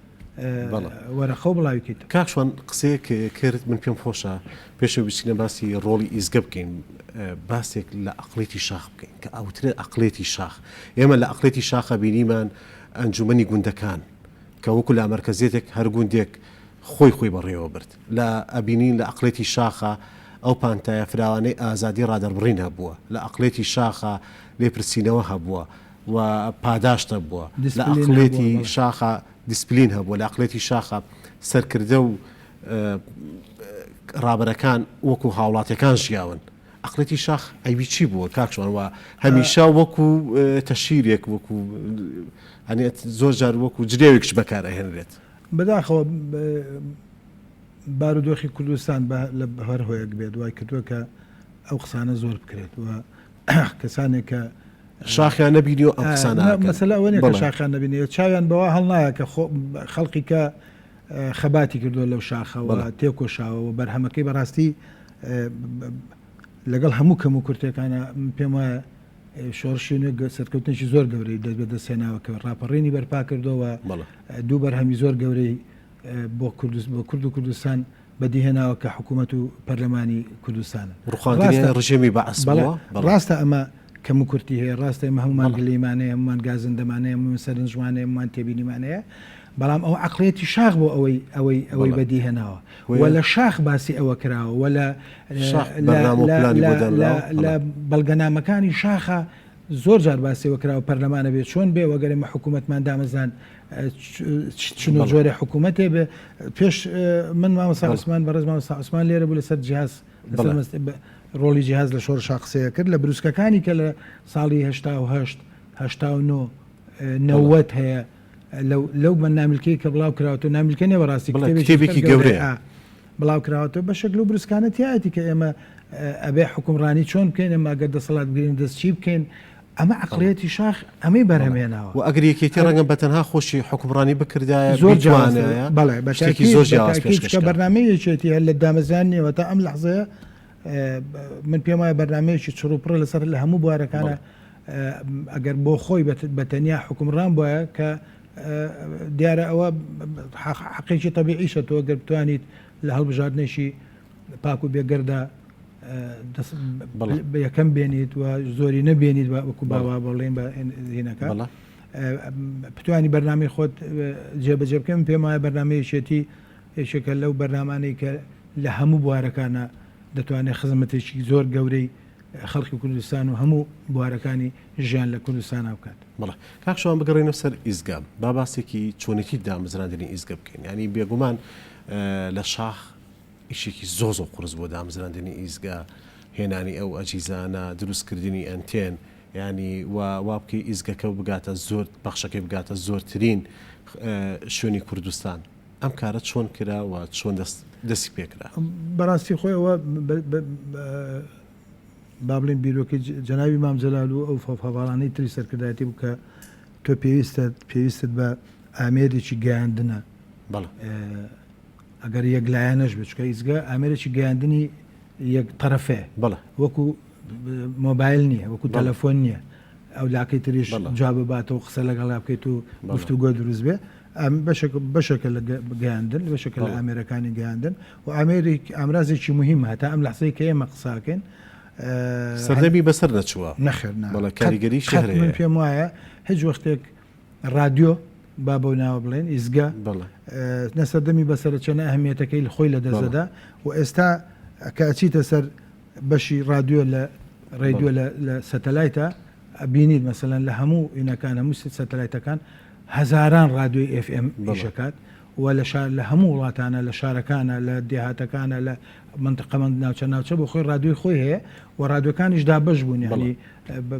وەرەقەو بڵاوی کەیتەوە. کاک شوان قسەیەک کرد من پێم خۆشە پێشەوە بچینە باسی ڕۆڵی ئیزگە بکەین باسێک لە ئەقڵێتی شاخ بکەین کە ئەوترێ ئەقڵێتی شاخ ئێمە لە ئەقڵێتی شاخە بینیمان ئەنجومەنی گوندەکان کە وەکو لامەرکەزێتێک هەر گوندێک خۆی خۆی بەڕێوە برد لە ئەبینین لە ئەقڵێتی شاخە ئەو پانتایە فراوانەی ئازادی ڕادەربڕین هەبووە لە ئەقڵێتی شاخە لێپرسینەوە هەبووە و پاداشت هەبووە لە ئەقڵێتی شاخە دیسپلین هەبووە لە ئەقڵێتی شاخە سەرکردە و ڕابەرەکان وەکو هاوڵاتەکان ژیاون ئەقلێتی شاخ ئەوی چی بووە کاکشوان وە هەمیشا وەکو تەشیرێک وەکو هەنێت زۆر جار وەکو جرێوێکش بەکار ئەهێنرێت بەداخەوە بارودۆخی کوردستان لە هەر هۆیەک بێت وای کردووە کە ئەو قسانە زۆر بکرێت و کەسانێک کە شاخیان نەبینی و ئەسانەوە شاخان نبینێ چاویان بەوە هەڵنایە کە خەڵقی کە خەباتی کردووە لەو شاخەوە تێکۆشاوەوە بەرهەمەکەی بەڕاستی لەگەڵ هەموو کەم و کورتەکانە پێم وایە شۆڕشی نوێ سەرکەوتنێکی زۆر گەورەی دەست بە دەستێناوە کە ڕاپەڕینی بەرپا کردەوە دوو بەرهەمی زۆر گەورەی بۆ کوردست بۆ کورد و کوردستان بەدیهێناوە کە حکوومەت و پەرلەمانی کوردستانن. ڕووخاندنی ڕژێمی بەعس بووە. بەڵێ، ڕاستە ئەمە کەموکورتی هەیە، ڕاستە ئێمە هەموومان گلەیمان هەیە، هەموومان گازندەمان هەیە، هەموومان سەرنجمان هەیە، هەموومان تێبینیمان هەیە، بەڵام ئەوە عەقڵیەتی شاخ بوو ئەوەی ئەوەی بەدیهێناوە و لە شاخ باسی ئەوە کراوە و لە بەرنامە و پلانی بۆ دانراوە. لە بەڵگەنامەکانی شاخە زۆر جار باسی ئەوە کراوە پەرلەمان ئەبێ چۆن بێ و ئەگەر ئێمە حکوومەتمان دامەزراند چ و جۆرە حکوومەتێ بێ پێش من مامەسا عوسمان بەڕێز مامەسا عوسمان لێرە بوو لەسەر جیاز ڕۆڵی جیاز لە شۆڕ شاقسەیە کرد لە بروسکەکانی کە لە ساڵی هشتا و هەشت هشتا و نۆ نەوەت هەیە لەو بە نامیلکەی کە بڵاو کراوەتەوە نامیلکە نیە بەڕاستی کتێبێکی گەورەیە بڵاو کراوەتەوە بەشێک لەو بروسکانە تایەتی کە ئێمە ئەبێ حکومڕانی چۆن بکەین ئەمە ئەگەر دەسەڵات بگرین دەست چی بکەین ئەمە عقلەتی شاخ ئەمەی بەرهمێناوە و ئەگەر یەکێتی ڕەنگە بەتەنها خۆشی حکومڕانی بکردایە زۆر جوانە بەڵێ بەشێکی زۆر جیاکە بەرنمەی یەکێتی هەر لە دامەزیان نیەوە تا ئەم لەحزەیە من پێم وایە بەرنمەیەکی چڕوپڕە لەسەر لە هەموو بوارەکانە ئەگەر بۆ خۆی بە تەنیا حوکمڕان بوایە کە دیارە ئەوە حەقێکی تەبیعیشە تۆ گەر بتوانیت لە هەڵبژاردنێکی پاک و بێگەردا یەکەم بێنیت و زۆری نەبێنیت وەکو باوا بەڵێن بە زینەکە پتوانی بەرنامی خۆت جێبەجێ بکەم پێم وایە بەرنمەیەشێتی یەکێکە لەو بەرنمانەی کە لە هەموو بوارەکانە دەتوانێت خزمەتێکی زۆر گەورەی خەڵکی کوردستان و هەموو بوارەکانی ژیان لە کوردستانا بکات. بەڵێ کاک شوان بگەڕێینە سەر ئیزگە با باسێکی چۆنێتی دامەزراندنی ئیزگە بکەین ینی بێگومان لە شاخ ئیشێکی زۆ زۆ قرس بۆ دامەزراندنی ئیزگە هێنانی ئەو ئەجیزانە دروستکردنی ئەنتێن ینی وابکەی ئیزگەکە بگاتە زۆر پەخشەکەی بگاتە زۆرترین شوێنی کوردستان ئەم کارە چۆن کرا و چۆن دەستی پێکرا؟ بەڕاستی خۆی ئەوە با بڵێن بیرۆکەی جەنابی مام جەلال و ئەو فەڤاڵانەی تری سەرکردایەتی بوو کە تۆ پێویستە پێویستت بە ئامێرێکی گەیاندنە بەڵ ئەگەر یەک لایەنەش بچکە ئیزگە ئامێرێکی گەیاندنی یەک تەرەفێ بەڵ وەکو مۆبایل نییە وەکو تەلەفۆن نییە ئەو لاکەی تریش جواب باتەوە قسە لەگەڵا بکەیت و گفتوگۆ دروست بێ بەشێکە لە گەیاندن بەشێکە لە ئامێرەکانی گەیاندن و ئامێری ئامرازێکی مهم هەتا ئەم لەحزەی کە ئێمە قساکەین سەردەمی بەسەر نەچووە نەخێر بەڵە کاریگەری شەهر من پێم وایە هیچ وەختێک رادیۆ با بۆ ناوە بڵێن ئیزگە نەسەردەمی بەسرە چەنە ئەهمیەتەکەی لە خۆی لە دەزەدا و ئێستا کەچیتە سەر بەشی رادیۆ لە ڕێدیۆ لە سەتەلایتە ئەبینیت مەسەلەن لە هەموو ئینەکان هەموو سەتەلایتەکان هەزاران ڕادیۆی ئێف ئێم ئیشەکات و لە شار لە هەموو وڵاتانە لە شارەکانە لە دێهاتەکانە لە منتقەمەند ناوچە ناوچە بۆ خۆی ڕادیۆی خۆی هەیە و ڕادیۆکانیش دابش بوون یعنی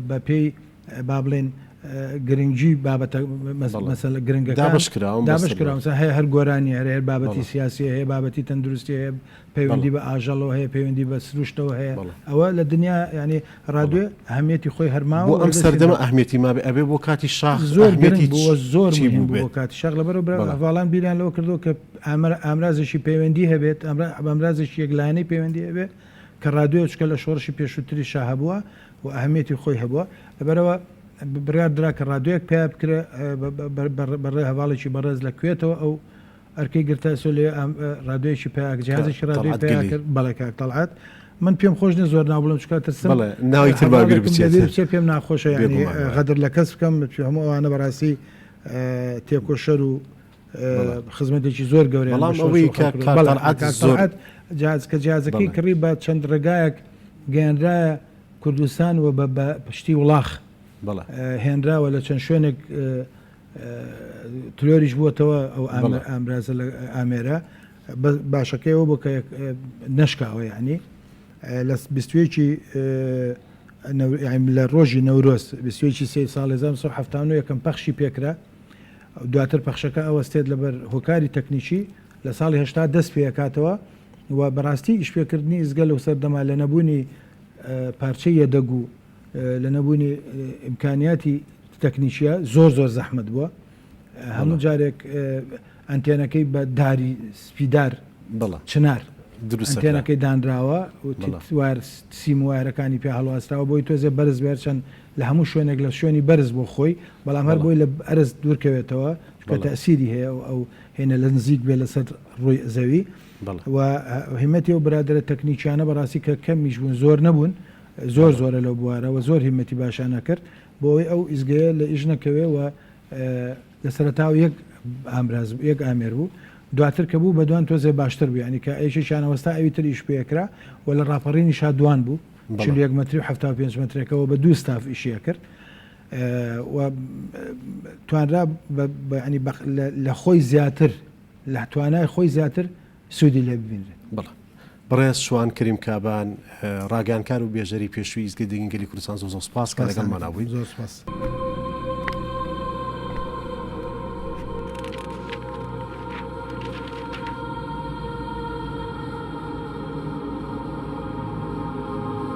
بە پێی با بڵێن گرنگجی بابەتە مەسەلە گرنگەکان دابش کراوە هەیە هەر گۆرانی هەرێر بابەتی سیاسی هەیە بابەتی تەندروستی هەیە پەیوەندی بە ئاژەڵەوە هەیە پەیوەندی بە سروشتەوە هەیە ئەوە لە دنیا ینی ڕادێ ئەهمیەتی خۆی هەرماوە بۆ ئەم سەردەمە ئەهمیەتی ما ئەبێ بۆ کاتی شاخ زۆر گرنگ بووە زۆر بۆ کاتی شەق لەبەر بەڵام بیریان لەوە کردو کە ئەمر ئامرازێکی پەیوەندی هەبێت ئەمر ئەمرازێکی یەکلایەنەی پەیوەندی هەبێت کە ڕادێ چکە لە شۆڕشی پێشووتری شا هەبووە و ئەهمیەتی خۆی هەبووە لەبەرەوە بڕیاردرا کە ڕادێک پێ بکرێ بەڕێ هەواڵێکی بەڕێز لە کوێتەوە ئەو ئەرکەی گرت تا ئێسۆ لەوێ ئام ڕادۆیەکی پیا ئەک جیهازێکی ڕادۆی طلعت پیا گلی. کرد بەڵێ کاک تەڵعات من پێم خۆش نیە زۆر ناو بڵێم چونکە ترسم بەڵێ، ناوی تر با بیر هەڤاڵێکم بچێت. لەبیر بچێ پێم ناخۆشە یانی بێگومان وایە. غەدر لە کەس بکەم چون هەموو ئەوانە بەڕاستی تێکۆشەر و بەڵێ. خزمەتێکی زۆر گەورەیان بەڵام بە شۆڕش و ئەوەی کە خەڵک کرد. کاک بەڵێ، تەڵعەت کاک زۆر- تەڵعەت جیهاز کە جیهازەکەی بەڵێ. کڕی بە چەند ڕێگایەک گەیەنرایە کوردستان و بە بە پشتی وڵاخ بەڵێ. هێنراوە لە چەند شوێنێک تلۆریش بووەتەوە ئەو ئامرازە لە ئامێرە باشەکەیەوە بۆ کە نەشکاوە یعنی لە بیستوێکی لە ڕۆژی نەورۆز بیستوێکی سێ ساڵ 1970 یەکەم پەخشی پێکرا دواتر پەخشەکە ئەوەستێت لەبەر هۆکاری تەکنیکی لە ساڵی هشتا دەست پێکاتەوە و بەڕاستی ئیشپێکردنی ئزگە لەو سەردەما لە نەبوونی پارچەیە دەگو لە نەبوونی ئیمکانیاتی تەکنیکیە زۆر زۆر زەحمت بووە هەموو جارێک ئەنتێنەکەی بە داری سپیدار بڵە چنار دروستێنەکەی دانراوە وتوار سیم وایرەکانی پێ هەڵواستراوە بۆی تۆزێ بەرز بێت چەند لە هەموو شوێنێک لە شوێنی بەرز بۆ خۆی بەڵام هەر بۆی لە ئەرز دوورکەوێتەوە چکە تەسیری هەیە و ئەو هێنە لە نزیک بێ لەسەر ڕووی زەوی و هیمەتی و برادرە تەکنیکیانە بەڕاستی کە کەمیش بوون زۆر نەبوون زۆر زۆرە لەو بوارە وە زۆر هیمەتی باشانە کرد بۆ ئەوەی ئەو ئیزگەیە لە ئیش نەکەوێ وە لە سەرەتاوە یەک ئامراز بوو یەک ئامێر بوو دواتر کە بوو بە دوان تۆزێ باشتر بوو یعنی کە ئەیشی شانە وەستا ئەوی تر ئیش پێ کرا وە لە ڕاپەڕینی شا دوان بوو بەڵێ. چل و یەک مەتری و حەفتا و پێنج مەترەکەوە بە دوو ستاف ئیشیە کرد و توانرا بە بە یعنی بە لە لە خۆی زیاتر لە توانای خۆی زیاتر سوودی لێ ببینرێت. بەڵێ. بەڕێز شوان کەریم کابان، ڕاگەیانکار و بێژەری پێشووی ئیستگەی دەنگی گەلی کوردستان زۆر زۆر سوپاس کە لەگەڵمانا بوویت. زۆر سوپاس.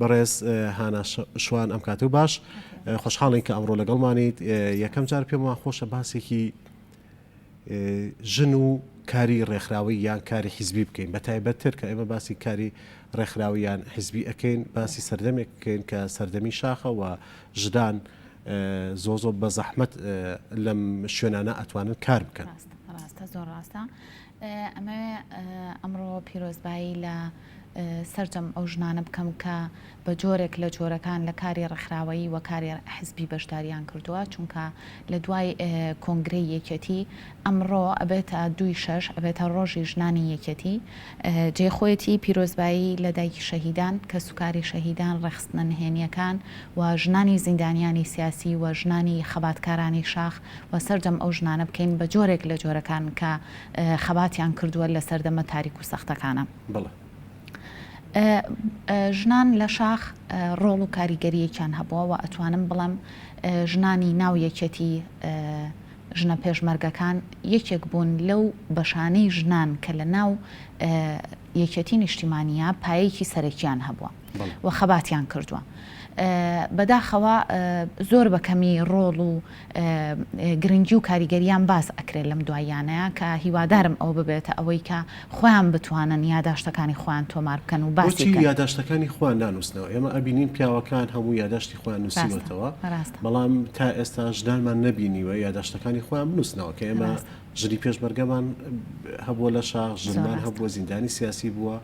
بەڕێز هانا شوان ئەم کاتەو باش خۆشحاڵین کە ئەمڕۆ لەگەڵمانیت یەکەم جار پێم وا خۆشە باسێکی ژن و کاری ڕێکخراوی یان کاری حیزبی بکەین بە تایبەتتر کە ئێمە باسی کاری ڕێکخراویان حیزبی ئەەکەین باسی سەردەمێک بکەین کە سەردەمی شاخەوە ژدان زۆ زۆ بە زەحمت لەم شوێنانە ئەتوانن کار بکەن ڕاستە زۆر ڕاستە ئەمە ئەمڕۆ پیرۆزبایی لە سەرجەم ئەو ژنانە بکەم کە بە جۆرێک لە جۆرەکان لە کاری ڕێکخراوەیی و کاری حزبی بەشدارییان کردووە، چونکە لە دوای کۆنگرەی یەکێتی، ئەمڕۆ ئەبێتە دووی شەش، ئەبێتە ڕۆژی ژنانی یەکێتی، جێی خۆیەتی پیرۆزبایی لە دایکی شەهیدان، کەسوکاری شەهیدان، ڕێکخستنە نهێنییەکان و ژنانی زیندانیانی سیاسی و ژنانی خەباتکارانی شاخ و سەرجەم ئەو ژنانە بکەین بە جۆرێک لە جۆرەکان کە خەباتیان کردووە لە سەردەمە تاریک و سەختەکانا. بڵێ. ژنان لە شاخ ڕۆڵ و کاریگەریەکیان هەبووە وە ئەتوانم بڵێم ژنانی ناو یەکێتی ژنە پێشمەرگەکان یەکێک بوون لەو بەشانەی ژنان کە لە ناو یەکێتی نیشتیمانە پایەکی سەرەکیان هەبووە وە خەباتیان کردووە بەداخەوە زۆر بەکەمی ڕۆڵ و گرنگی و کاریگەریان باس ئەکرێت لەم دواییانەیە کە هیوادارم ئەوە ببێتە ئەوەی کە خۆیان بتوانن یاداشتەکانی خۆیان تۆمار بکەن و باسی بکەن. بۆچی یاداشتەکانی خۆیان نانووسنەوە؟ ئێمە ئەبینین پیاوەکان هەموو یاداشتی خۆیان نووسیوەتەوە، بەڵام تا ئێستا ژنانمان نەبینیوە یاداشتەکانی خۆیان بنووسنەوە کە ئێمە ژنی پێشمەرگەمان هەبووە لە شاخ، ژنمان هەبووە زیندانی سیاسی بووە،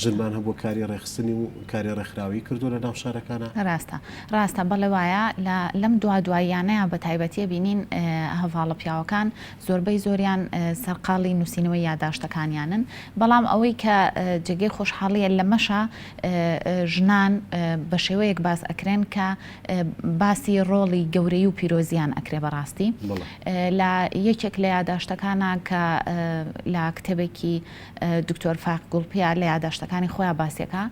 ژنمان هەبووە کاری ڕێکخستنی و کاری ڕێکخراوەیی کردووە لە ناو شارەکانا. ڕاستە، ڕاستە، بەڵێ وایە، لە لەم دوا دواییانەیا بە تایبەتی ئەبینین هەڤاڵە پیاوەکان زۆربەی زۆریان سەرقاڵی نووسینەوەی یاداشتەکانیانن، بەڵام ئەوەی کە جێگەی خۆشحاڵییە لەمەشا ژنان بە شێوەیەک باس ئەکرێن کە باسی ڕۆڵی گەورەی و پیرۆزیان ئەکرێ بەڕاستی لە یەکێک لە یاداشتەکانە کە لە کتێبێکی دکتۆر فاق گوڵپیا لە یاداشتەکانی خۆیان باسیەکە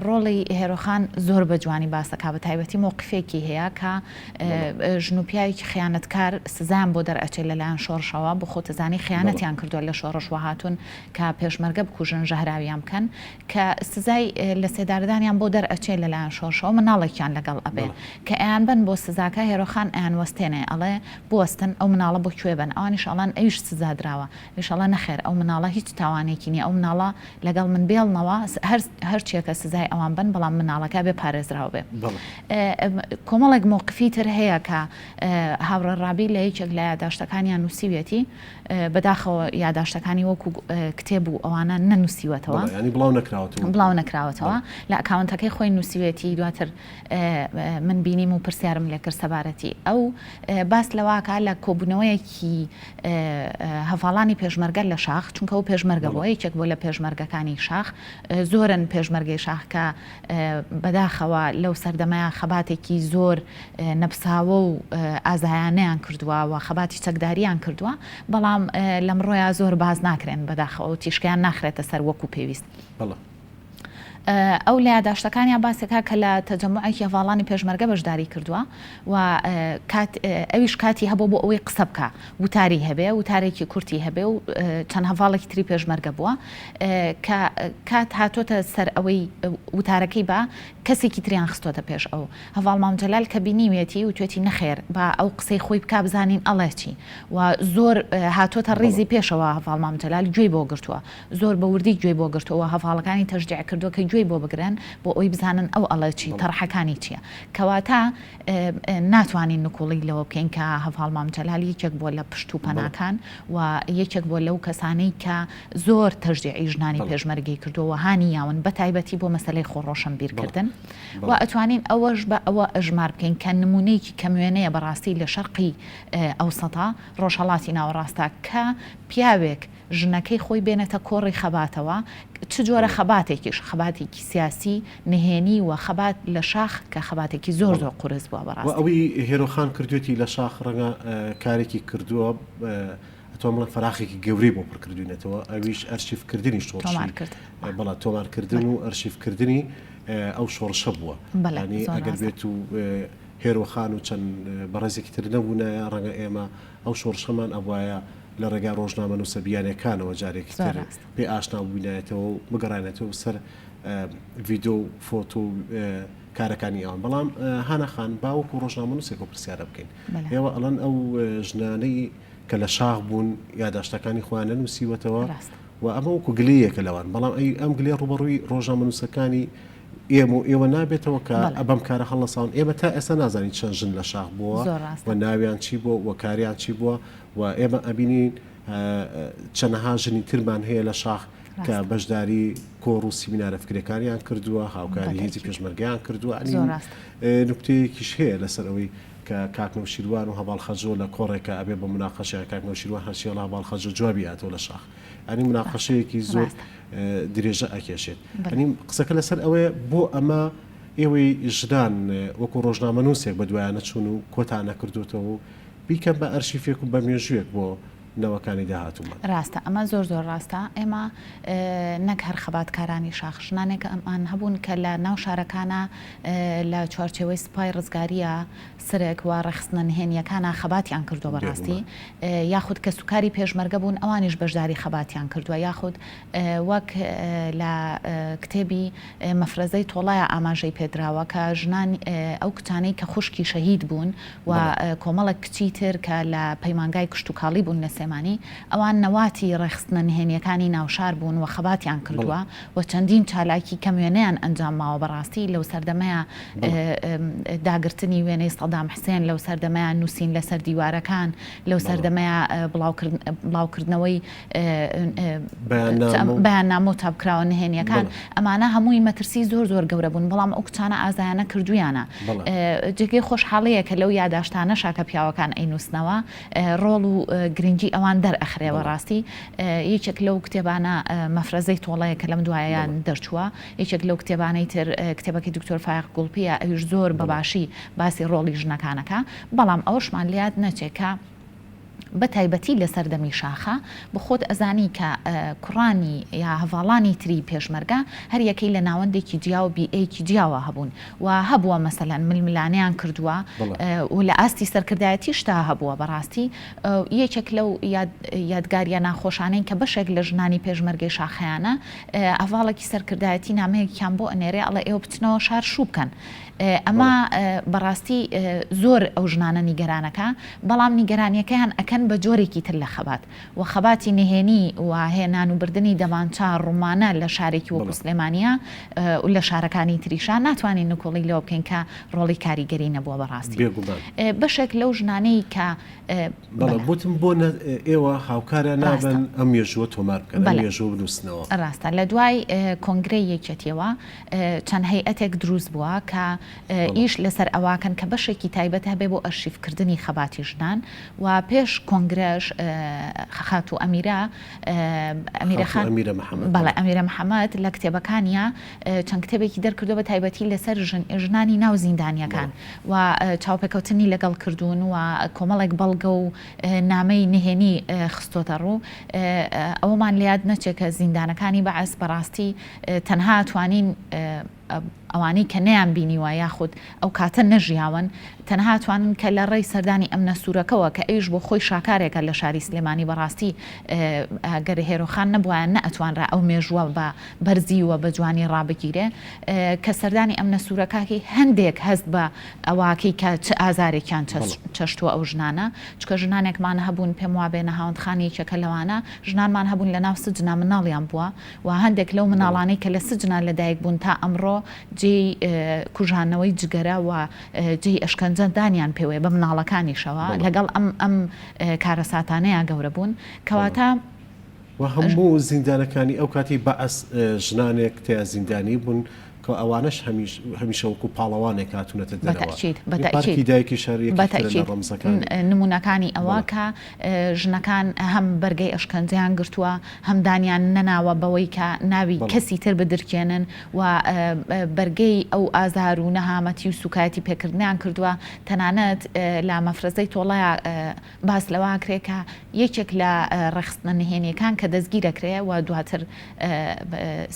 ڕۆڵی هێرۆخان زۆر بە جوانی باسەکە بە تایبەتی مۆقفێکی هەیە کە ژن و پیاوێکی خیانەتکار سزان بۆ دەرئەچێت لەلایەن شۆڕشەوە بۆ خۆتەزانی خیانەتیان کردووە لە شۆڕش وهاتون کە پێشمەرگە بکوژن ژەهراویان بکەن کە سزای لەسێدارەدانیان بۆ دەرئەچێ لەلایەن شۆرشەوە مناڵێکیان لەگەڵ ئەبێ کە ئەیانبەن بۆ سزاکە هێرۆخان ئەیانوەستێنێ ئەڵێ بوەستن ئەو مناڵە بۆ کوێ بەن ئەوانیش ئەڵێن ئەویش سزا دراوە ئەویش ئەڵێ نەخێر ئەو مناڵە هیچ تاوانێکی نیە ئەو مناڵە لەگەڵ من بێڵنەوە هەر چیەکە سزای ئەوان بەن بەڵام مناڵەکە ئەبێ پارێزراو بێ کۆمەڵێک مەوقفی تر هەیە کە هاوڕێ ڕابی لە یەکێک لە یاداشتەکانیان نووسیویەتی بەداخەوە یاداشتەکانی وەکو کتێب و ئەوانە نەنووسیوەتەوە. بەڵێ یانی بڵاو نەکراوەتەوە. بڵاو نەکراوەتەوە. بەڵێ. لە ئەکاونتەکەی خۆی نووسیوێتی دواتر من بینیم و پرسیارم لێ کرد سەبارەتی ئەو باس لەوە ئەکا لە کۆبوونەوەیەکی هەڤاڵانی پێشمەرگە لە شاخ چونکە ئەو پێشمەرگە بووە بەڵێ. یەکێک بووە لە پێشمەرگەکانی شاخ زۆرن پێشمەرگەی شاخ کە بەداخەوە لەو سەردەمەیان خەباتێکی زۆر نەپساوە و ئازایانەیان کردووە و خەباتی چەکداریان کردووە، بەڵام لەمڕۆیا زۆر باس ناکرێن بەداخەوە و تیشکیان ناخرێتە سەر وەکو پێویست. ئەو لە یاداشتەکانیا باسێکا کە لە تەجەموعێکی هەڤاڵانی پێشمەرگە بەشداری کردووە و ئەویش کاتی هەبووە بۆ ئەوەی قسە بکا، وتاری هەبێ، وتارێکی کورتی هەبێ و چەند هەڤاڵێکی تری پێشمەرگە بووە کە کات هاتۆتە سەر ئەوەی وتارەکەی با کەسێکی تریان خستۆتە پێش ئەو هەڤاڵ مام جەلال کە بینیوێتی و توێتی نەخێر با ئەو قسەی خۆی بک بزانین ئەڵێ چی و زۆر هاتۆتە ڕیزی پێشەوە هەڤاڵ مام جەلال گوێی بۆ گرتووە زۆر بە وردی گوێی بۆ گرتووە هەڤاڵەکانی تەژدیع کردووە کە گوێی بۆ بگرن بۆ ئەوی بزانن ئەو ئەڵێ چی تەڕحەکانی چییە کەواتە ناتوانین نکوڵی لەوە بکەین کە هەڤاڵ مام جەلال یەکێک بووە لە پشت و پەناکان و یەکێک بووە لەو کەسانەی کە زۆر تەشجیعی ژنانی پێشمەرگەی کردووە و هانی یاون بە تایبەتی بۆ مەسەلەی خۆ ڕۆشەنبیرکردن و ئەتوانین ئەوەش بە ئەوە ئەژمار بکەین کە نموونەیەکی کەم وێنەیە بەڕاستی لە شەرقی ئەوسەتا ڕۆژهەڵاتی ناوەڕاستە کە پیاوێک ژنەکەی خۆی بێنێتە کۆڕی خەباتەوە، چ جۆرە خەباتێکیش، خەباتێکی سیاسی نهێنی و خەبات لە شاخ کە خەباتێکی زۆر زۆر قورس بووە بە ڕاستی. وە ئەوەی هێرۆ خان کردوویەتی لە شاخ ڕەنگە کارێکی کردووە ئەتوان بڵێن فەراخێکی گەورەی بۆ پڕ کردووینەتەوە ئەویش ئەرشیف کردنی شۆڕشی بەڵا تۆمار کردن و ئەرشیف کردنی ئەو شۆڕشە بووە بەلانی ئەگەر بێت و هێرۆ خان و چەند بەڕێزێکی تر نەبوونایە ڕەنگە ئێمە ئەو شۆڕشەمان ئەبوایە لە ڕێگای ڕۆژنامەنووسە بیانییەکانەوە جارێکی تر پێ ئاشنا بووینایەتەوە و بگەڕانێتەوە سەر ڤیدۆ و فۆتۆ و کارەکانی ئەوان بەڵام هانەخان باوەکو و ڕۆژنامەنووسێک و پرسیارە بکەین ئێوە ئەڵەن ئەو ژنانەی کە لە شاخ بوون یاداشتەکانی خۆیانە نووسیوەتەوە و ئەمە وەکو گلەیەکە لەوان بەڵام ئەی ئەم گلێ ڕوبەڕووی ڕۆژنامەنووسەکانی ئێمە و ئێوە نابێتەوە کە بەڵێ. بەم کارە هەڵنەساون ئێمە تا ئێستا نازانین چەند ژن لە شاخ بووە زۆر ڕاستە. و ناویان چی بووە و کاریان چی بووە و ئێمە ئەبینین ئە، چەنەها ژنی ترمان هەیە لە شاخ کە ڕاستە. بەشداری کۆڕ و سیمینارە فکرەکانیان کردووە هاوکاری هێزی بەتەئکید. پێشمەرگەیان کردووە ئەنی زۆر ڕاستە. ئێ، نوکتەیەکیش هەیە لەسەر ئەوەی کە کاک نەوشیروان و هەڤاڵ خەجۆ لە کۆڕێکا ئەبێ بە مناقەشەیان کاک نەوشیروان هەرچی ئەڵێ هەڤاڵ خەجۆ جوابی ئەیاتەوە لە شاخ ئەنی بەڵێ. مناقەشەیەکی زۆر ڕاستە. درێژە ئەکێشێت ئەنیم قسەکە لەسەر ئەوەیە بۆ ئەمە ئێوەی ژدان وەکو ڕۆژنامە نووسێک بە دوایانە چون و کۆتانە کردوتەوە و بیکە بە ئەرشیفێک و بە مێژوێک بۆ نەوەکانی داهاتوومە ڕاستە ئەمە زۆر زۆر ڕاستە ئێمە نەک هەر خەباتکارانی شاخ ژنانێکە ئەمان هەبوون کە لە ناو شارەکانە لە چوارچەوەی سپای ڕزگاریە سەرێک و ڕێکخستنە نهێنییەکانە خەباتیان کردووە بە ڕاستی، یاخود کەسوکاری پێشمەرگە بوون ئەوانیش بەشداری خەباتیان کردووە، یاخود وەک لە کتێبی مەفرەزەی تۆڵایا ئاماژەی پێ دراوە کە ژنان ئەو کچانەی کە خوشکی شەهید بوون و کۆمەڵێک کچی تر کە لە پەیمانگای کشتوکاڵی بوون لە سلێمانی ئەوان نەواتی ڕێکخستنە نهێنییەکانی ناوشار بوون و خەباتیان کردووە. و چەندین چالاکی کەم وێنەیان ئەنجام ماوە بەڕاستی لەو سەردەمەیا داگرتنی وێنەی سەدام حسێن لەو سەردەمەیا نووسین لەسەر دیوارەکان لەو سەردەمەیا بڵاو کردنەوەی بەیان نامە و چاپکراوە نهێنیەکان ئەمانە هەمووی مەترسی زۆر زۆر گەورە بوون بەڵام ئەو کچانە ئازایانە کردویانە جێگەی خۆشحاڵەیە کە لەو یاداشتانە شاکە پیاوەکان ئەی نووسنەوە ڕۆڵ و گرنگی ئەوان دەرئەخرێ وە ڕاستی یەکێک لەو کتێبانە مەفرەزەی تۆڵەیە کە لەم دوایە دەرچووە یەکێک لەو کتێبانەی تر کتێبەکەی دکتۆر فایەق گوڵپیە ئەویش زۆر بە باشی باسی ڕۆڵی ژنەکان ئەکا بەڵام ئەوەشمان لە یاد نەچێ کە بە تایبەتی لە سەردەمی شاخە بە خۆت ئەزانی کە کوڕانی یا هەڤاڵانی تری پێشمەرگە هەر یەکەی لە ناوەندێکی جیا و بیئەیەکی جیاوە هەبوون و هەبووە مەسەلەن ململانێیان کردووە و لە ئاستی سەرکردایەتیشدا هەبووە بەڕاستی یەکێک لەو یادگاریە ناخۆشانەی کە بەشێک لە ژنانی پێشمەرگەی شاخەیانە هەڤاڵێکی سەرکردایەتی نامەیەکیان بۆ ئەنێرێ ئەڵێ ئێوە بچنەوە شار شوو بکەن ئەمە بەڕاستی زۆر ئەو ژنانە نیگەرانەکە بەڵام نیگەرانیەکەیان ئەکەن بە جۆرێکی تر لە خەبات و خەباتی نهێنی و هێنان و بردنی دەمانچە ڕومانە لە شارێکی وەکو سلێمانیە و لە شارەکانی تریشا ناتوانین نکوڵی لەوە بکەین کە ڕۆڵی کاریگەری نەبووە بەڕاستی بەشێک لەو ژنانەی کە بەڵێ بوتم بۆ ئێوە هاوکارە نابن ئەم مێژووە تۆمار بکەن ئەم مێژووە بنووسنەوە. ڕاستە لە دوای کۆنگرەی یەکێتیەوە چەند هەیئەتێک دروست بووە کە ئیش لەسەر ئەوەکەن کە بەشێکی تایبەت هەبێ بۆ ئەرشیفکردنی خەباتی ژنان و پێش کۆنگرەش خاتوو ئەمیرە ئەمیرە خان ئەمیرە محەمەد بەڵێ ئەمیرە محەمەد لە کتێبەکانیا چەند کتێبێکی دەرکردو بە تایبەتی لەسەر ژن ژنانی ناو زیندانیەکان و چاوپێکەوتنی لەگەڵ کردوون و کۆمەڵێک بەڵگە و نامەی نهێنی خستۆتە ڕوو ئەوەمان لە یاد نەچێت کە زیندانەکانی بەعس بەڕاستی تەنها توانین ئەوانەی کە نەیان بینیوە یاخود ئەو کاتە نەژیاون تەنها ئەتوانن کە لە ڕێی سەردانی ئەم نەسورەکەوە کە ئەویش بۆ خۆی شاکارێکە لە شاری سلێمانی بەڕاستی گەر هێرۆخان نەبوایە نە ئەتوانرا ئەو مێژووە بە بەرزی و بە جوانی ڕابگیرێ کە سەردانی ئەم نەسورەکەی هەندێک هەست بە ئەواکەی کە چ ئازارێکیان چەشتووە ئەو ژنانە چکە ژنانێکمان هەبوون پێم وابێ نەهاوەندخانی یەکێکە لەوانە ژنانمان هەبوون لە ناو سجنا مناڵیان بووە و هەندێک لەو مناڵانەی کە لە سجنان لە دایک بوون تا ئەمڕۆ جێی کوژانەوەی جگەرە و جێی ئەشکەنجە دانیان پێوەیە بە مناڵەکانیشەوە لەگەڵ ئەم ئەم کارەساتانەیا گەورە بوون کەواتە وە هەموو زیندانەکانی ئەو کاتی بەعس ژنانێک تیا زیندانی بوون کە ئەوانەش هەمیش هەمیشە وەکو پاڵەوانێک هاتوونەتە بە دەرەوە. تەئکید بە تەئکید پارکی دایکی شار بە یەکێکە لە تەئکید نەڕەمزەکانی. نموونەکانی ئەوە بەڵێ. کە ژنەکان هەم بەرگەی ئەشکەنجەیان گرتووە هەم دانیان نەناوە بەوەی کە ناوی بەڵێ. کەسی تر بدرکێنن و بەرگەی ئەو ئازار و نەهامەتی و سووکایەتی پێکردنەیان کردووە تەنانەت لە مەفرەزەی تۆڵەیا باس لەوە ئەکرێ کە یەکێک لە ڕێکخستنە نهێنییەکان کە دەستگیرەکرێ و دواتر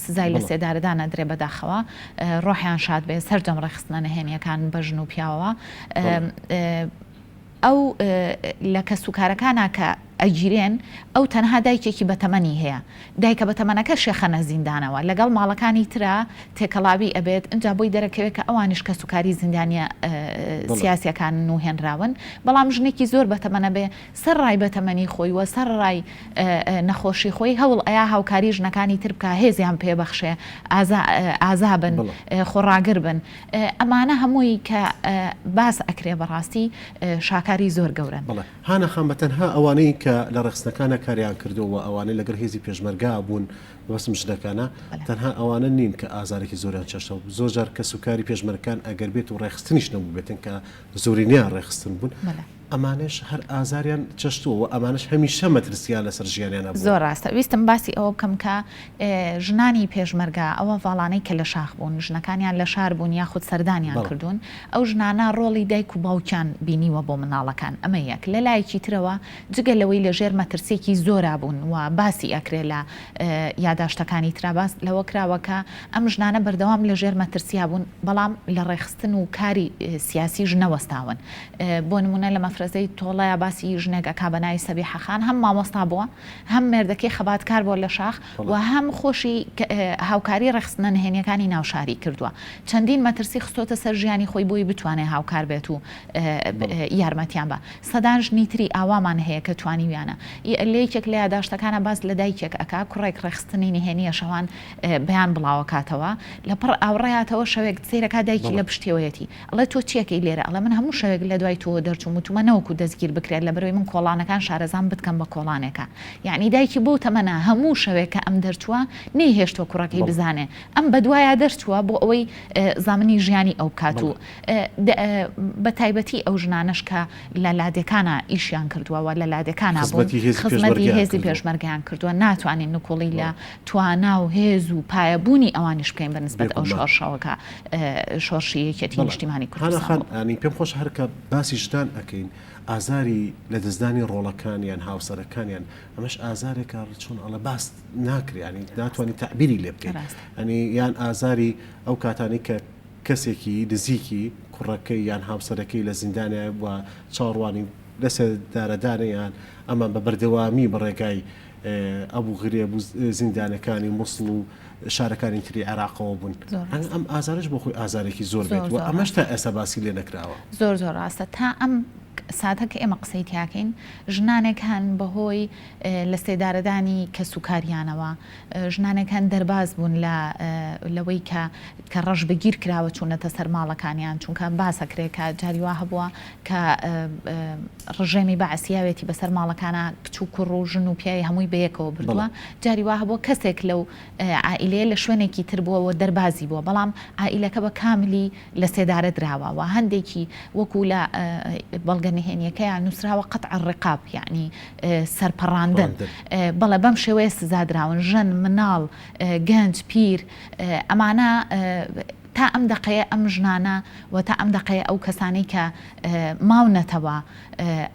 سزای لەسێدارەدان ئەدرێ بەداخەوە ڕۆحیان شاد بێ سەرجەم ڕێکخستنە نهێنییەکان بە ژن و پیاوەوە ئەو لە کەسوکارەکانە کە ئەگیرێن ئەو تەنها دایکێکی بەتەمەنی هەیە دایکە بەتەمەنەکە شێخەنە زیندانەوە لەگەڵ ماڵەکانی ترا تێکەڵاوی ئەبێت ئنجا بۆی دەرەکەوێت کە ئەوانیش کەسوکاری زیندانیە سیاسیەکانن و هێنراون بەڵام ژنێکی زۆر بەتەمەنە بێ سەر ڕای بەتەمەنی خۆی وە سەر ڕای نەخۆشی خۆی هەوڵ ئەیا هاوکاری ژنەکانی تر بکە هێزیان پێ بەخشێ ئازا ئازا بن خۆڕاگر بن ئەمانە هەمووی کە باس ئەکرێ بەڕاستی شاکاری زۆر گەورەن. هانا خان بە تەنها ئەوانەی کە لە ڕێخستنەکانا کاریان کردووە و ئەوانەی لەگەڵ هێزی پێشمەرگا بوون، مەبەستم ژنەکانە، تەنها ئەوانە نین کە ئازارێکی زۆریان چەشتەوە، زۆر جار کەسوکاری پێشمەرگەکان ئەگەر بێت و ڕێخستنیش نەبووبێتن کە زۆرینەیان ڕێخستن بوون، ئەمانەش هەر ئازاریان چەشتووە و ئەمانەش هەمیشە مەترسییان لەسەر ژیانیان هەبووە. زۆر ڕاستە، ویستم باسی ئەوە بکەم کە ژنانی پێشمەرگە ئەو هەڤاڵانەی کە لە شاخ بوون، ژنەکانیان لە شار بوون یاخود سەردانیان کردوون، ئەو ژنانە ڕۆڵی دایک و باوکیان بینیوە بۆ منداڵەکان ئەمە یەک لە لایەکی ترەوە جگە لەوەی لە ژێر مەترسیەکی زۆرا بوون و باسی ئەکرێ لە یاداشتەکانی ترا باس لەوە کراوە کە ئەم ژنانە بەردەوام لە ژێر مەترسیا بوون بەڵام لە ڕێخستن و کاری سیاسیش نەوەستاون بۆ نمونە لە مەفرەزەی تۆڵەیا باسی ژنێک ئەکا بە ناوی سەبیحە خان هەم مامۆستا بووە هەم مێردەکەی خەباتکار بووە لە شاخ و هەم خۆشی هاوکاری ڕێکخستنە نهێنییەکانی ناو شاری کردووە، چەندین مەترسی خستۆتە سەر ژیانی خۆی بۆی بتوانێت هاوکار بێت و یارمەتیان با. سەدان ژنی تری ئاوامان هەیە کە توانیویانە. ی لە یەکێک لە یاداشتەکانا باس لە دایکێک ئەکا کوڕێک ڕێکخستنی نهێنییە شەوان بەیان بڵاوەکاتەوە لە پڕ ئاوڕێاتەوە شەوێک سەیرەکا دایکی لە پشتیەوەیەتی، ئەڵێ تۆ چیەکەی لێرە؟ ئەڵێ من هەموو شەوێک لەدوای تۆوە دەرچووم و تومە نەوەکو دەستگیر بکرێت لەبەرەوەی من کۆڵانەکان شارەزام بتکەم بە کۆڵانێکە یەعنی دایکی بەو تەمەنە هەموو شەوێک کە ئەم دەرچووە نەیهێشتووە کوڕەکەی بەڵێ. بزانێ ئەم بەدوایا دەرچووە بۆ ئەوەی زامنی ژیانی ئەو بکات و بەڵێ. بە تایبەتی ئەو ژنانەش کە لە لادێکانا ئیشیان کردووە و لە لادێکانا بوون خزمەتی هێزی خزمەتی پێشمەرگەیان هێزی کردووە. پێشمەرگەیان کردووە ناتوانین نکوڵی لە بەڵێ. توانا و هێز و پایە بوونی ئەوانیش بکەین بە نسبەت ئەو شۆڕشەوە کە شۆڕشی یەکیەتی نیشتیمانی کوردستان بوو. هانا خان ئامین، پێم خۆشە هەر کە باسی ژنان ئەکەین، ئازاری لە دەستدانی ڕۆڵەکانیان، هاوسەرەکانیان، ئەمەش ئازارێکە چۆن ئەڵێ باس ناکرێ یانی ناتوانی تەعبیری لێ بکەی. یانی یان ئازاری ئەو کاتانەی کە کەسێکی نزیکی کوڕەکەی یان هاوسەرەکەی لە زیندانە و چاوەڕوانی لەسێدارەدانە یان ئەمان بە بەردەوامی بە ڕێگای ئەبو غرێب و زیندانەکانی موسڵ و شارەکانی تری عێراقەوە بوون ئەنگ ئەم ئازارش بۆ خۆی ئازارێکی زۆر بێت و ئەمەش تا ئێستا باسی لێ نەکراوە زۆر زۆر ڕاستە تا ئەم ساتە کە ئێمە قسەی تیاکەین ژنانێک هەن بەهۆی لە سێدارەدانی کە سوکاریانەوە ژنانێک هەن دەرباز بوون لە لەوەی کە کە ڕەش بەگیر کراوە چوونەتە سەر ماڵەکانیان چونکە باسەکرێکە جاریوا هەبووە کە ڕژێمی بەعس یاوێتی بەسەر ماڵەکانا کچ و کوڕ و ژن و پیاوی هەمووی بەیەکەوە بردووە جاری وا هەبووە کەسێک لەو عائیلەیە لە شوێنێکی تر بووە و دەربازی بووە بەڵام عائیلەکە بە کاملی لە سێدارە دراوە و هەندێکی وەکوو لە بەڵگە نهێنیەکەیان نووسراوە قەتع الرقاب یەعنی سەرپەڕاندن بەڵێ بەم شێوەیە سزا دراون ژن مناڵ گەنج پیر ئەمانە تا ئەم دەقەیە ئەم ژنانە و تا ئەم دەقەیە ئەو کەسانەی کە ماونەتەوە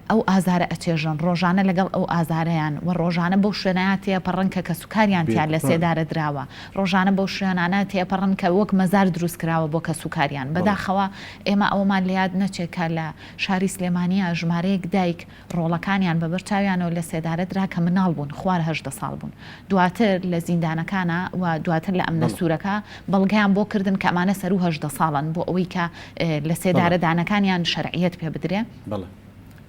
ئەو ئازارە ئەچێژن، ڕۆژانە لەگەڵ ئەو ئازارەیان و ڕۆژانە بەو شوێنەیا تێپەڕن کە کەسوکاریان تیا لەسێدارە دراوە، ڕۆژانە بەو شوێنانە تێپەڕن کە وەک مەزار دروست کراوە بۆ کەسوکاریان، بەداخەوە ئێمە ئەوەمان لەیاد نەچێت کە لە شاری سلێمانیا ژمارەیەک دایک، ڕۆڵەکانیان بە بەر چاویانەوە لە سێدارە درا کە مناڵ بوون، خوار هەژدە ساڵ بوون. دواتر لە زیندانەکانە و دواتر لە ئەمنە سوورەکە بەڵگەیان بۆ کردن کە ئەمانە سەروو هەژدە ساڵن بۆ ئەوەی کە لە سێدارە دانەکانیان شەرعییەت پێ بدرێ.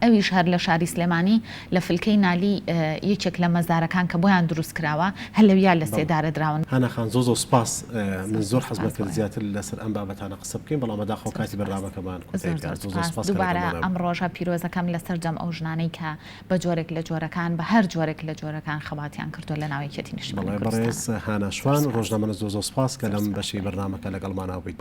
ئەویش هەر لە شاری سلێمانی لە فلکەی نالی یەکێک لە مەزارەکان کە بۆیان دروست کراوە هە لەویا لە سێدارە دراون. هانا خان زۆر زۆر سوپاس من زۆر حەزم دەکرد زیاتر لەسەر ئەم بابەتانە قسە. قسە بکەین بەڵام بەداخەوە زۆر کاتی سوپاس بەرنامەکەمان زۆر کۆتایی زۆر گات زۆر سوپاس سوپاس کەلەکە دووبارە بۆمان. ئەم ڕۆژە پیرۆزەکەم لەسەرجەم ئەو ژنانەی کە بە جۆرێک لە جۆرەکان بە هەر جۆرێک لە جۆرەکان خەباتیان کردووە لە ناو یەکێتی نیشتمانی بەڵێ بەڕێز کوردستانا هانا زۆر شوان سوپاس ڕۆژنامەنووس زۆر زۆر سوپاس کە زۆر لەم سوپاس. بەشەی بەرنامەکە لەگەڵمانا بوویت.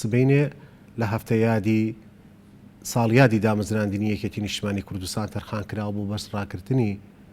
سبەینێ لە هەفتە یادی ساڵیادی دامەزراندنی یەکێتی نیشتمانی کوردستان تەرخان کراوە بۆ بەس ڕاکردنی